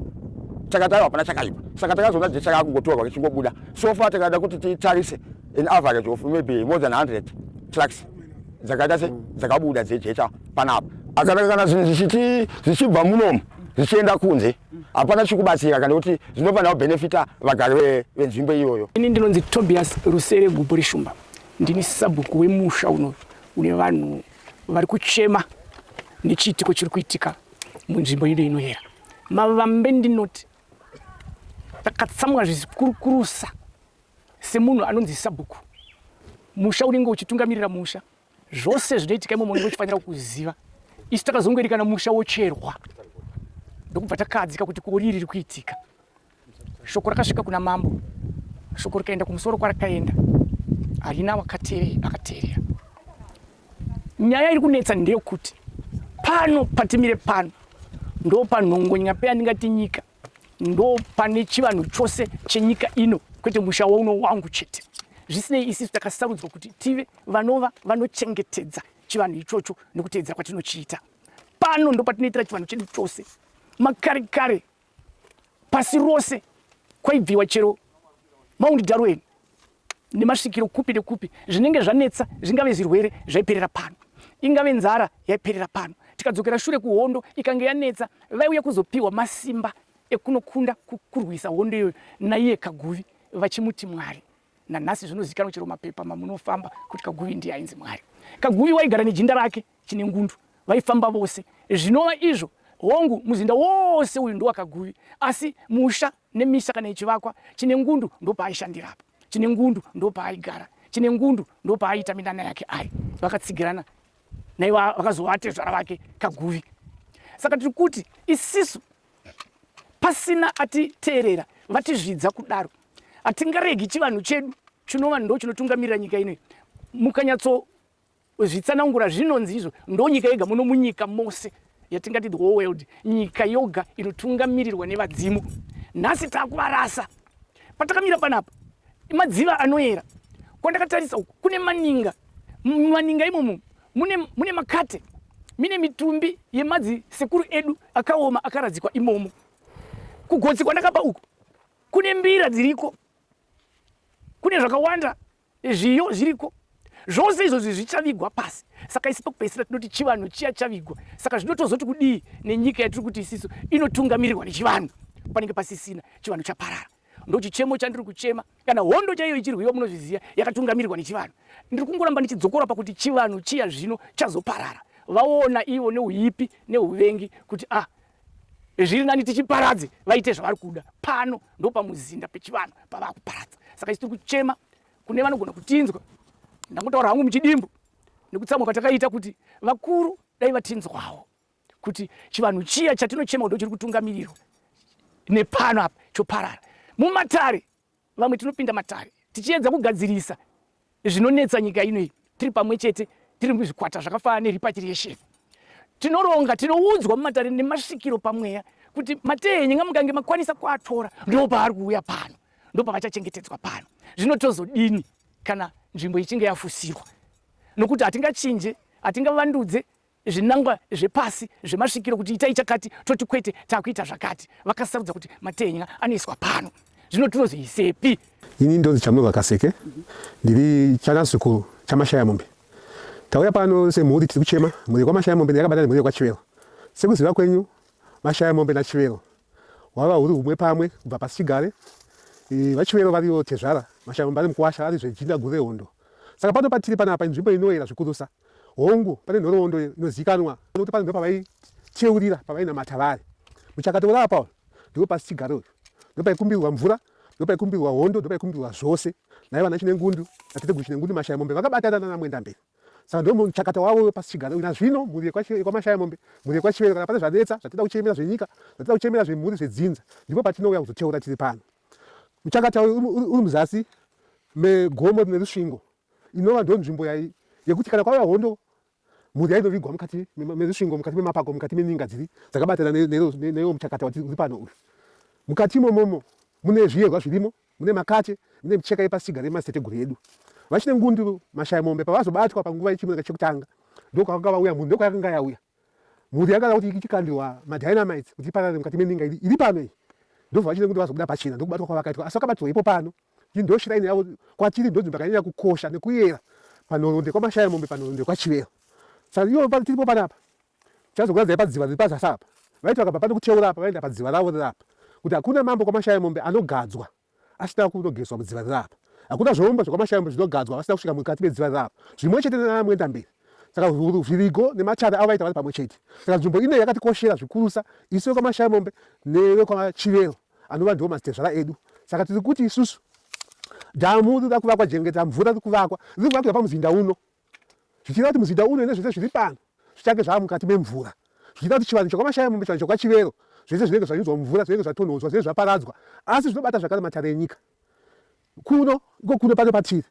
takataura hapana chakaipa saka takazoona jecha raakungotorwa richingobuda so far takada kuti titarise an average of maybe more than 100 trucks dzakaita se dzakabuda dzejecha panapa akana kana zvinhu zvichiti zvichibva munomu zvichienda kunze hapana chikubatsira kana kuti zvinofanira kubenefita vagari venzvimbo iyoyo ini ndinonzi tobias rusere gubhu reshumba ndini sabhuku wemusha unoyu une vanhu vari kuchema nechiitiko chiri kuitika munzvimbo ido inoyera mavambe ndinoti takatsamwa zvizikurukurusa semunhu anonzi sabhuku musha unenge uchitungamirira musha zvose zvinoitika imomo unenge uchifanira kuziva isu takazongoerekana musha wocherwa ndokubva takadzika kuti kori riri kuitika shoko rakasvika kuna mambo shoko rikaenda kumusoro kwarakaenda harina wakatere akateerera nyaya iri kunetsa ndeyokuti pano patimire pano ndo panhongonya peyandingati nyika ndo pane chivanhu chose chenyika ino kwete musha wauno wangu chete zvisinei isisu takasarudzwa kuti tive vanova vanochengetedza chivanhu ichocho nekuteedzera kwatinochiita pano ndo patinoitira chivanhu chedu chose makare kare pasi rose kwaibviwa chero maundi darweni nemasvikiro kupi nekupi zvinenge zvanetsa zvingave zvirwere zvaiperera pano ingave nzara yaiperera pano tikadzokera shure kuhondo ikange yanetsa vaiuya kuzopiwa masimba ekunokunda kurwisa hondo iyoyo naiye kaguvi vachimuti mwari nanhasi zvinozikanwa chero mapepa mamunofamba kuti kaguvi ndiye ainzi mwari kaguvi waigara nejinda rake Chinengundu vaifamba vose zvinova izvo. Hongu, muzinda wose uyu ndowaKaguvi, asi musha nemisha kana ichivakwa, Chinengundu ndopaaishandira apa. Chinengundu ndopaaigara. Chinengundu ndopaaiita minana yake ari. Vakatsigirana naiva vakazova atezvara vake Kaguvi. Saka tiri kuti isisu pasina atiteerera vatizvidza kudaro hatingaregi chivanhu chedu chinova ndo chinotungamirira nyika inoyi mukanyatso Zvitsanangura zvinonzi izvo ndonyika yega muno munyika mose yatingati the whole world nyika yoga inotungamirirwa nevadzimu nhasi takuvarasa patakamira panapa madziva anoyera kwandakatarisa uku kune maninga maninga imomo mune, mune makate mine mitumbi yemadzi sekuru edu akaoma akaradzikwa imomo kugotsi kwandakapa uku kune mbira dziriko kune zvakawanda Zviyo zviriko zvose izvozvi zvichavigwa pasi saka isi pakupedzisira tinoti chivanhu chiya chavigwa saka zvinotozoti kudii nenyika yatiri kuti isisu inotungamirirwa nechivanhu panenge pasisina chivanhu chaparara ndochichemo chandiri kuchema kana hondo chaiyo ichirwiwa munozviziva yakatungamirirwa nechivanhu ndiri kungoramba ndichidzokora pakuti chivanhu chiya zvino chazoparara vaona ivo neuipi neuvengi kuti ah zviri nani tichiparadze vaite zvavari kuda pano ndopamuzinda pechivanhu pavava kuparadza saka isu tiri kuchema kune vanogona kutinzwa ndangotaura hangu muchidimbu nekutsamwa kwatakaita kuti vakuru dai vatinzwawo kuti chivanhu chiya chatinochema kudo chiri kutungamirirwa nepano apa choparara mumatare Vamwe tinopinda matare tichiedza kugadzirisa zvinonetsa nyika ino iyi tiri pamwe chete tiri muzvikwata zvakafanana nerepatriation tinoronga tinoudzwa mumatare nemasvikiro pamweya kuti matenyi ngamukange makwanisa kuatora ndo paari kuuya pano ndo pavachachengetedzwa pano zvino tozodini kana nzvimbo ichinge yafusirwa nokuti hatingachinje hatingavandudze zvinangwa zvepasi zvemasvikiro kuti itai chakati toti kwete takuita zvakati vakasarudza kuti matenya anoiswa pano zvino tinozoisepi ini ndonzi chamunoga kaseke ndiri chanasuku chamashaya mombe tauya pano semhuri tiri kuchema mhuri kwamashaya mombe ndiyakabata nemhuri yekwachivero sekuziva kwenyu mashaya mombe nachivero wava huri humwe pamwe kubva pasi chigare vachivero variwo tezvara mashaya mombe ari mukuwasha ari zvejinda gure hondo saka pano patiri panapa inzvimbo inoyera zvikurusa Hongu, pane nhoroondo inozivikanwa kuti panzwa pavaicheurira pavainamata vari. Muchakato uri apa uyu ndipo pasi chigaro uyu. Ndopaikumbirwa mvura, ndopaikumbirwa hondo, ndopaikumbirwa zvose. Nai vana Chinengundu, naTeteguru Chinengundu Mashaya Mombe vakabatana nana Mwendamberi. Saka ndo muchakata wavo wepasi chigaro uyu. Nazvino mhuri yekwaMashaya Mombe, mhuri yekwaChivero kana pane zvanetsa, zvatinoda kuchemera zvenyika, zvatinoda kuchemera zvemhuri zvedzinza, ndipo patinouya kuzoteura tiri pano. Muchakata uyu uri muzasi megomo rine rusvingo inova ndo nzvimbo yai yekuti kana kwava hondo mhuri yainovigwa mukati mezvisvingo mukati memapako mukati meninga dziri dzakabatana neiwo muchakata uri pano uyu mukati imomomo mune zviyerwa zvirimo mune makache mune micheka yepasiga remaseteguru edu vachine ngunduru mashaya mombe pavazobatwa panguva yechimuka chekutanga ndokwakanga vauya mhuri ndokwayakanga yauya Mhuri yagara kuti ichikandirwa madynamites kuti iparare mukati meninga iri, iri pano iyi ndobva vachida kuti vazobuda pachena ndokubatwa kwavakaitwa asi vakabatirwa ipo pano iyi ndo shrine yavo kwatiri ndonzvimbo yakanyanya kukosha nekuyera panoronde kwamashaya mombe panoronde kwachivero saka iyo pano tiripo panapa chazokuradzai padziva riri pazasi apa vaiti vakabva pano kucheura apa vaenda padziva ravo riri apa kuti hakuna mambo kwamashaya mombe anogadzwa asina kunogezwa mudziva riri apa. Hakuna zvombo zvekwaMashayombe zvinogadzwa vasina kusvika mukati medziva riri apa, zvimwe chete nanaMwendamberi. Saka Zvirigo nematare avo vaita vari pamwe chete. Saka nzvimbo ino yakatikoshera zvikurusa isu vekwaMashayombe nevekwaChivero anova ndiwo mazitezvara edu. Saka tiri kuti isusu dhamu riri kuvakwa Jengeta, mvura riri kuvakwa, riri kuvakirwa pamuzinda uno. zvichireva kuti muzinda uno nezvese zviri pano zvichange zvava mukati memvura, zvichireva kuti chivanhu chekwaMashaya mombe, chivanhu chekwaChivero, zvese zvinenge zvanyudzwa mumvura, zvinenge zvatonhodzwa, zvinenge zvaparadzwa, asi zvinobata zvakare matare enyika. Kuno ndiko kuno pano patiri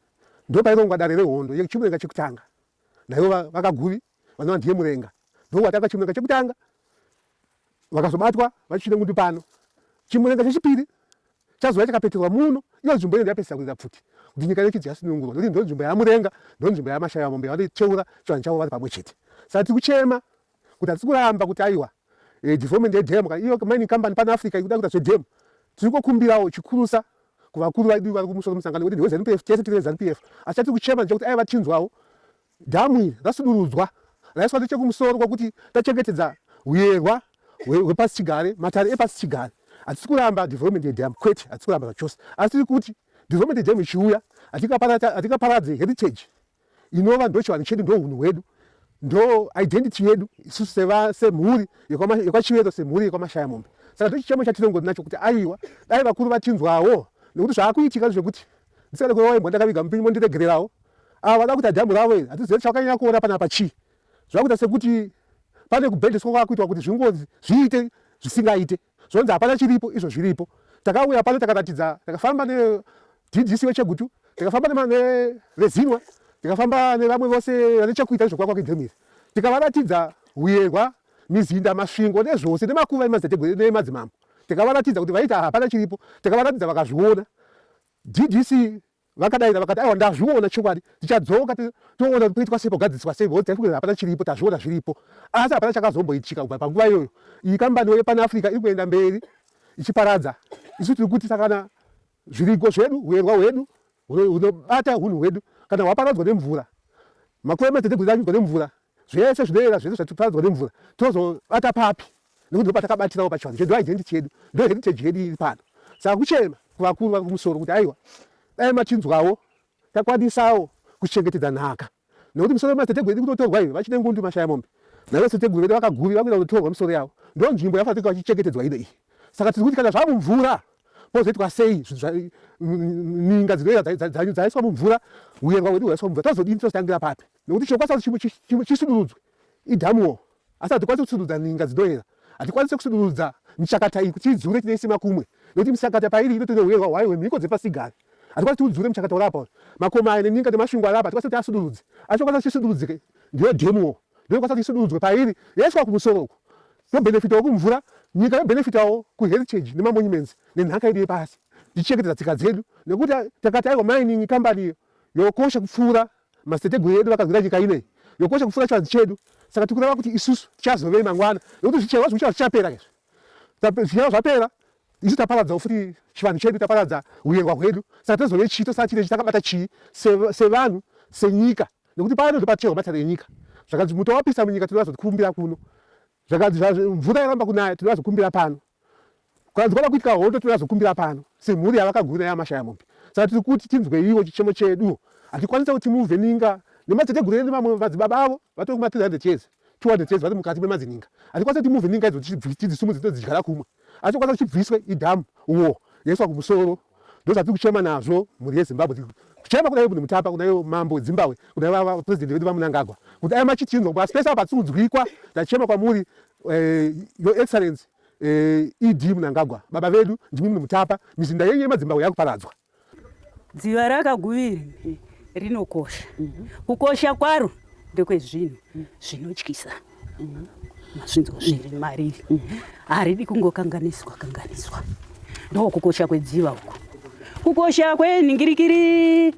ndopairongwa dare rehondo yeChimurenga chekutanga, naivo vaKaguvi vanova ndiye Murenga ndovowatanga Chimurenga chekutanga vakazobatwa vachisvira ngundu pano chimurenga chechipiri chazouya chakapeterwa muno iyo nzvimbo inenge yapesisa kuita pfuti kuti nyika yedu chidzi yasunungurwa nokuti ndo nzvimbo yamurenga ndo nzvimbo yamashaya mombe vanocheura chivanhu chavo vari pamwe chete saka tiri kuchema kuti hatisi kuramba kuti aiwa eh, development yedam iyo mining company pan africa ikuda kuita zvedam tiri kokumbirawo chikurusa kuvakuru vaidu vari kumusoro musangano kuti ndiwe zanupf tese tiri vezanupf asi chatiri kuchema ndechekuti aiva tinzwawo Dhamu iri rasudurudzwa raiswa nechekumusoro kwakuti tachengetedza huyerwa hwepasi chigare, matare epasi chigare. Hatisi kuramba development yedhamu, kwete, hatisi kuramba zvachose, asi tiri kuti development yedhamu ichiuya hatikaparadze heritage inova ndochivanhu chedu, ndohunhu hwedu, ndo identity yedu isusu seva semhuri yekwachivero semhuri yekwamashaya mombe saka ndochichemo chatiringori nacho kuti aiwa dai vakuru vatinzwawo nekuti zvaakuitika zvekuti ndisikane kurowa imbwa ndakaviga mupinyi mondiregererawo ava vada kuita dhambu ravo iri hatizive chakanyanya kuona panapa chii zvakuita sekuti pane kubhendeswa kwakuitwa kuti zvingozi zviite zvisingaite zvonzi hapana chiripo izvo zviripo takauya pano takaratidza takafamba nedc wechegutu takafamba nevezinwa tikafamba nevamwe vose vane chekuita nezvekuvakwa kwedhemiri tikavaratidza huyerwa mizinda masvingo nezvose nemakuva nemadzimambo tikavaratidza kuti vaita hapana chiripo tikavaratidza vakazviona DDC vakadaira vakati aiwa ndazviona chokwadi tichadzoka toona toitwa sei pogadziswa sei voti taikuti hapana chiripo tazviona zviripo asi hapana chakazomboitika kubva panguva iyoyo iyi kambaniwo yepana africa iri kuenda mberi ichiparadza isu tiri kuti sakana zviriko zvedu huerwa hwedu hunobata unhu hwedu kana hwaparadzwa nemvura makwemete negwezanyudzwa nemvura zvese zvinoera zvese zvatiparadzwa nemvura tozobata papi nekuti ndopatakabatirawo pachivanhu chedu identity yedu ndo heritage yedu iri pano saka kuchema kuvakuru vakumusoro kuti aiwa dai machinzwawo takwanisawo kuchengetedza nhaka nekuti misoro yemadziteteguru iri kutotorwa iwe vachine ngundu mashaya mombe naivo siteguru vedu vakaguri vakuita kutotorwa misoro yavo ndo nzvimbo yafanira vachichengetedzwa ino iyi saka tiri kuti kana zvamumvura pozoitwa sei ninga dzinoita dzaiswa mumvura uyerwa hwedu hwaiswa mumvura tozodini tozotangira papi nekuti chinokwasa kuti chisudurudzwe idhamuwo Asi hatikwanise kusudurudza ninga dzinoera. Hatikwanise kusudurudza michakata iyi kuti idzure tineise makumwe nekuti michakata pairi inotori nehuerwa hwayo hwemhiko dzepasigare. Hatikwanise kuti udzure muchakata uri apa uyu. Makomo aya neninga nemasvingo ari apa hatikwanise kuti asudurudze. Asi chinokwanisa kuti chisudurudzike ndiyo dhemu wo. Ndinokwanisa kuti isudurudzwe pairi yoiswa kumusoro uku yobhenefitawo kumvura, nyika yobhenefitawo kuheritage nemamonuments nenhaka yedu yepasi tichichengetedza tsika dzedu nekuti takati aiwa mining kambani iyo yokosha kupfuura Madziteteguru edu vakanzwira nyika ino iyi yokosha kupfuura chivanzi chedu, saka tiri kureva kuti isusu tichazovei mangwana, nokuti zvicherwa zvokuchiva zvichapera izvi. Zvicherwa zvapera, isu taparadzawo futi chivanhu chedu, taparadza huyerwa hwedu, saka tozovei chii? Tosara tiine chitakabata chii sevanhu, senyika? Nokuti pano ndipo paticherwa matare enyika. Zvakanzi muto wapisa munyika, tinoda zvatikumbira kuno. zvakanzi mvura yaramba kunaya tinoda zvokumbira pano kukanzi kwava kuitika hondo tinoda zvokumbira pano semhuri yavakaguna yamashaya mombe saka tiri kuti tinzweiwo chichemo chedu hatikwanisa kuti muvheninga nemateteguru edu vamwe vadzibaba avo vatori kuma 300 years 200 years vari mukati memazininga hatikwanisa kuti muvheninga idzo tidzisumudze todzidyara kumwe asi kwanza kuchibviswe idhamu wo yaiswa kumusoro ndozvatiri kuchema nazvo mhuri yezimbabwe kuchema kuna ibn mutapa kuna iyo mambo wedzimbabwe kuna vava president vedu vamunangagwa kuti aya machichinzwa kuba spesa patsinzwikwa tachema kwamuri eh, your excellence eh, ed munangagwa baba vedu ndimi mune mutapa mizinda yenyu yemadzimbabwe yakuparadzwa Dziva rakaguviri rinokosha. Kukosha kwaro ndekwezvinhu zvinotyisa mazvinzo zviri mariri haridi kungokanganiswa kanganiswa ndokukosha kwedziva uku kukosha kwenhingirikiri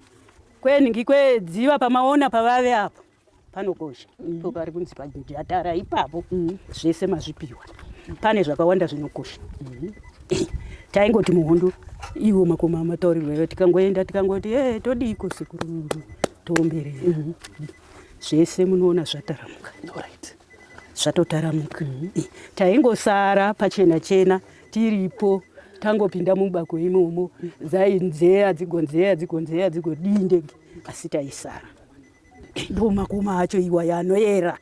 kwenhingi kwedziva pamaona pavave apo panokosha mm. po pari kunzi bhajeti yatara ipapo mm. zvese mazvipiwa pane zvakawanda zvinokosha mm. taingoti muhondo iwo makoma mataurirwa iwo tikangoenda tikangoti e todiiko sekuru toomberei mm-hmm. zvese munoona zvataramuka zvatotaramuka mm-hmm. eh, taingosara pachena chena tiripo tangopinda mubako imomo dzainzeya dzigonzeya dzigonzeya dzigodii ndege asi taisara Ndo makoma acho iwaya anoera.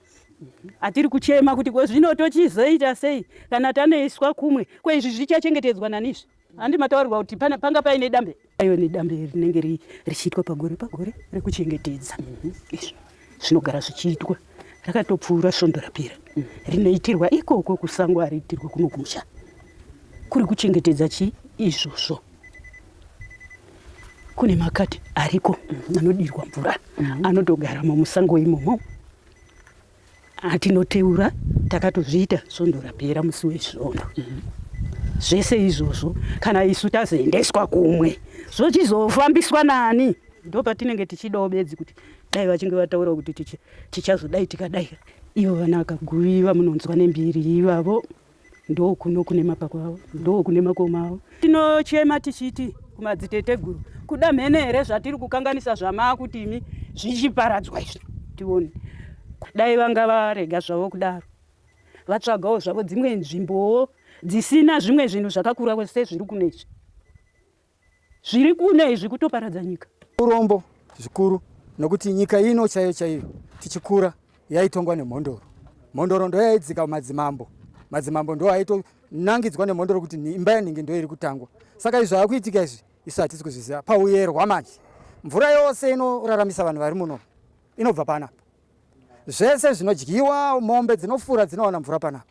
Atiri kuchema kuti ko zvino tochizoita sei kana tanoiswa kumwe. Ko izvi zvichachengetedzwa nani izvi? Handi mataurirwa kuti pana- panga paine dambe. Ayo ni dambe rinenge ri- richiitwa pagore pagore rekuchengetedza. Izvi zvinogara zvichiitwa. Rakatopfuura svondo rapera. Rinoitirwa ikoko kusango ariitirwa kuno kumusha. Kuri kuchengetedza chi izvozvo. kune makati ariko mm, anodirwa mvura mm. anotogaramo musango imomo atinoteura takatozviita svondo rapera musi wesvondo mm. zvese izvozvo kana isu tazoendeswa kumwe zvochizofambiswa nani ndo patinenge tichidawo bedzi kuti dai vachinge vataura kuti tichazodai tikadai ivo vana vakaguviva munonzwa nembiri ivavo ndokuno kune mapako avo ndokune makoma avo tinochema tichiti kumadziteteguru kuda mhene here zvatiri kukanganisa zvamaakuti imi zvichiparadzwa izvi tione dai vanga varega zvavo kudaro vatsvagawo zvavo dzimwe nzvimbowo dzisina zvimwe zvinhu zvakakura sezviri kunezvi Zviri kuuya izvi kutoparadza nyika. Urombo zvikuru nokuti nyika ino chaiyo chaiyo tichikura yaitongwa nemhondoro. Mhondoro ndoyaidzika madzimambo. Madzimambo ndo aitonangidzwa nemhondoro kuti imba yanhingi ndo iri kutangwa. Saka izvi zvakuitika izvi isu hatisi kuzviziva. Pauyerwa manje mvura yose inoraramisa vanhu vari muno inobva panapa. Zvese zvinodyiwa mombe dzinofura dzinowana mvura panapa.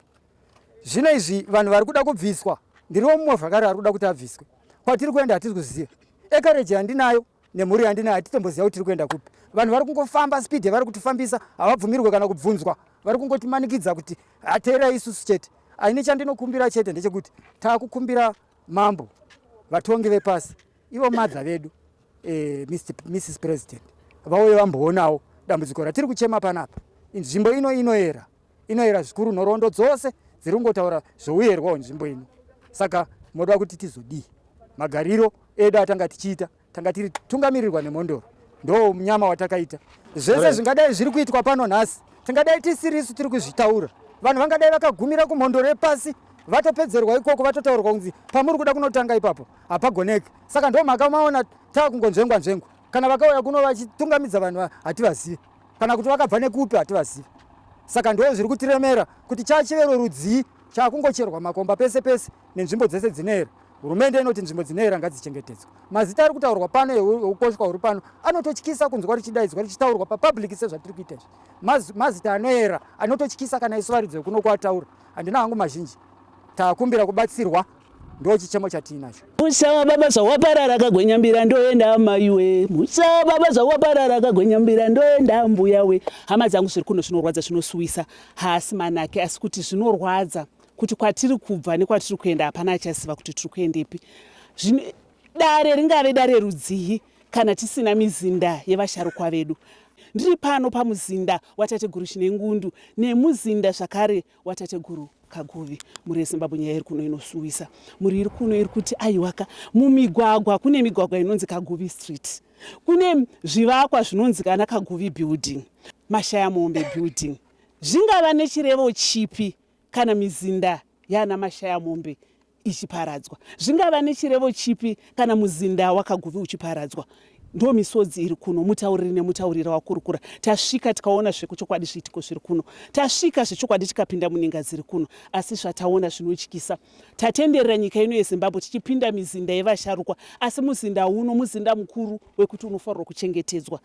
Zvino izvi vanhu vari kuda kubviswa, ndiriwo mumwe zvakare ari kuda kuti abviswe. Kwatiri kuenda hatisi kuziva. Ekareji yandinayo nemhuri yandinayo hatitomboziva kuti tiri kuenda kupi. Vanhu vari kungofamba speed yavari kutifambisa, havabvumirwe kana kubvunzwa. Vari kungotimanikidza kuti ateerai isusu chete. Aine chandinokumbira chete ndechekuti takukumbira mambo, vatongi vepasi, ivo madha vedu, eh, Mrs President, vauye vamboonawo dambudziko ratiri kuchema panapa. Nzvimbo ino inoera. inoyera zvikuru nhoroondo dzose dziri kungotaura zvouyerwa hwenzvimbo ino saka moda kuti tizodii magariro edu atanga tichiita tanga tiri tungamirirwa nemhondoro ndo munyama watakaita zvese zvingadai zviri kuitwa pano nhasi tingadai tisirisu tiri kuzvitaura vanhu vangadai vakagumira kumhondoro yepasi vatopedzerwa ikoko vatotaurwa kunzi pamuri kuda kunotanga ipapo hapagoneki saka ndo mhaka maona tava kungonzvengwa nzvengwa kana vakauya kuno vachitungamidza vanhu hativazivi kana kuti vakabva nekupi hativazivi saka ndoo zviri kutiremera kuti chachivero rudzii chakungocherwa makomba pese pese nenzvimbo dzese dzinera hurumende inoti nzvimbo dzinera ngadzichengetedzwa mazita ari kutaurwa pano eukoshwa huri pano anototyisa kunzwa richidaidzwa richitaurwa papublic sezvatiri kuita izvi mazita anoera anototyisa kana isu varidzi vekuno kuataura handina hangu mazhinji takumbira kubatsirwa ndo chichemo chatiinacho musa wababa zvawaparara kagwenyambira ndoenda amaiwe musa wababa zvawaparara kagwenyambira ndoenda ambuya we hama dzangu zviri kuno zvinorwadza zvinosuwisa haasi manake asi kuti zvinorwadza kuti kwatiri kubva nekwatiri kuenda hapana achaziva kuti tiri kuendepi dare ringave dare rudzii kana tisina mizinda yevasharukwa vedu ndiri pano pamuzinda watateguru chinengundu nemuzinda zvakare watateguru kaguvi mhuri yezimbabwe nyaya iri kuno inosuwisa mhuri iri kuno iri kuti aiwaka mumigwagwa kune migwagwa inonzi kaguvi street kune zvivakwa zvinonzi kana kaguvi building mashaya mombe building zvingava nechirevo chipi kana mizinda yaana mashaya mombe ichiparadzwa zvingava nechirevo chipi kana muzinda wakaguvi uchiparadzwa ndo misodzi iri kuno mutauriri nemutaurira wakurukura tasvika tikaona zvekuchokwadi zviitiko zviri kuno tasvika zvechokwadi tikapinda muninga dziri kuno asi zvataona zvinotyisa tatenderera nyika ino yezimbabwe tichipinda mizinda yevasharukwa asi muzinda uno muzinda mukuru wekuti unofanirwa kuchengetedzwa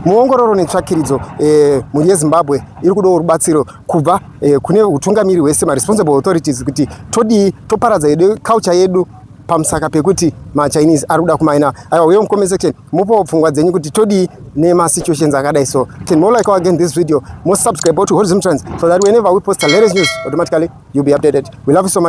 Muongororo netsvakiridzo eh, mhuri yezimbabwe iri kudawo rubatsiro kubva eh, kune utungamiri hwese maresponsible authorities kuti todii toparadza yedu culture yedu pamusaka pekuti machinese ari kuda kumaina aiwa uye mucomment section mupowo pfungwa dzenyu kuti todii nemasituations akadai so can more like again this video more subscribe to horizon trans so that whenever we post a latest news automatically you'll be updated we love you so much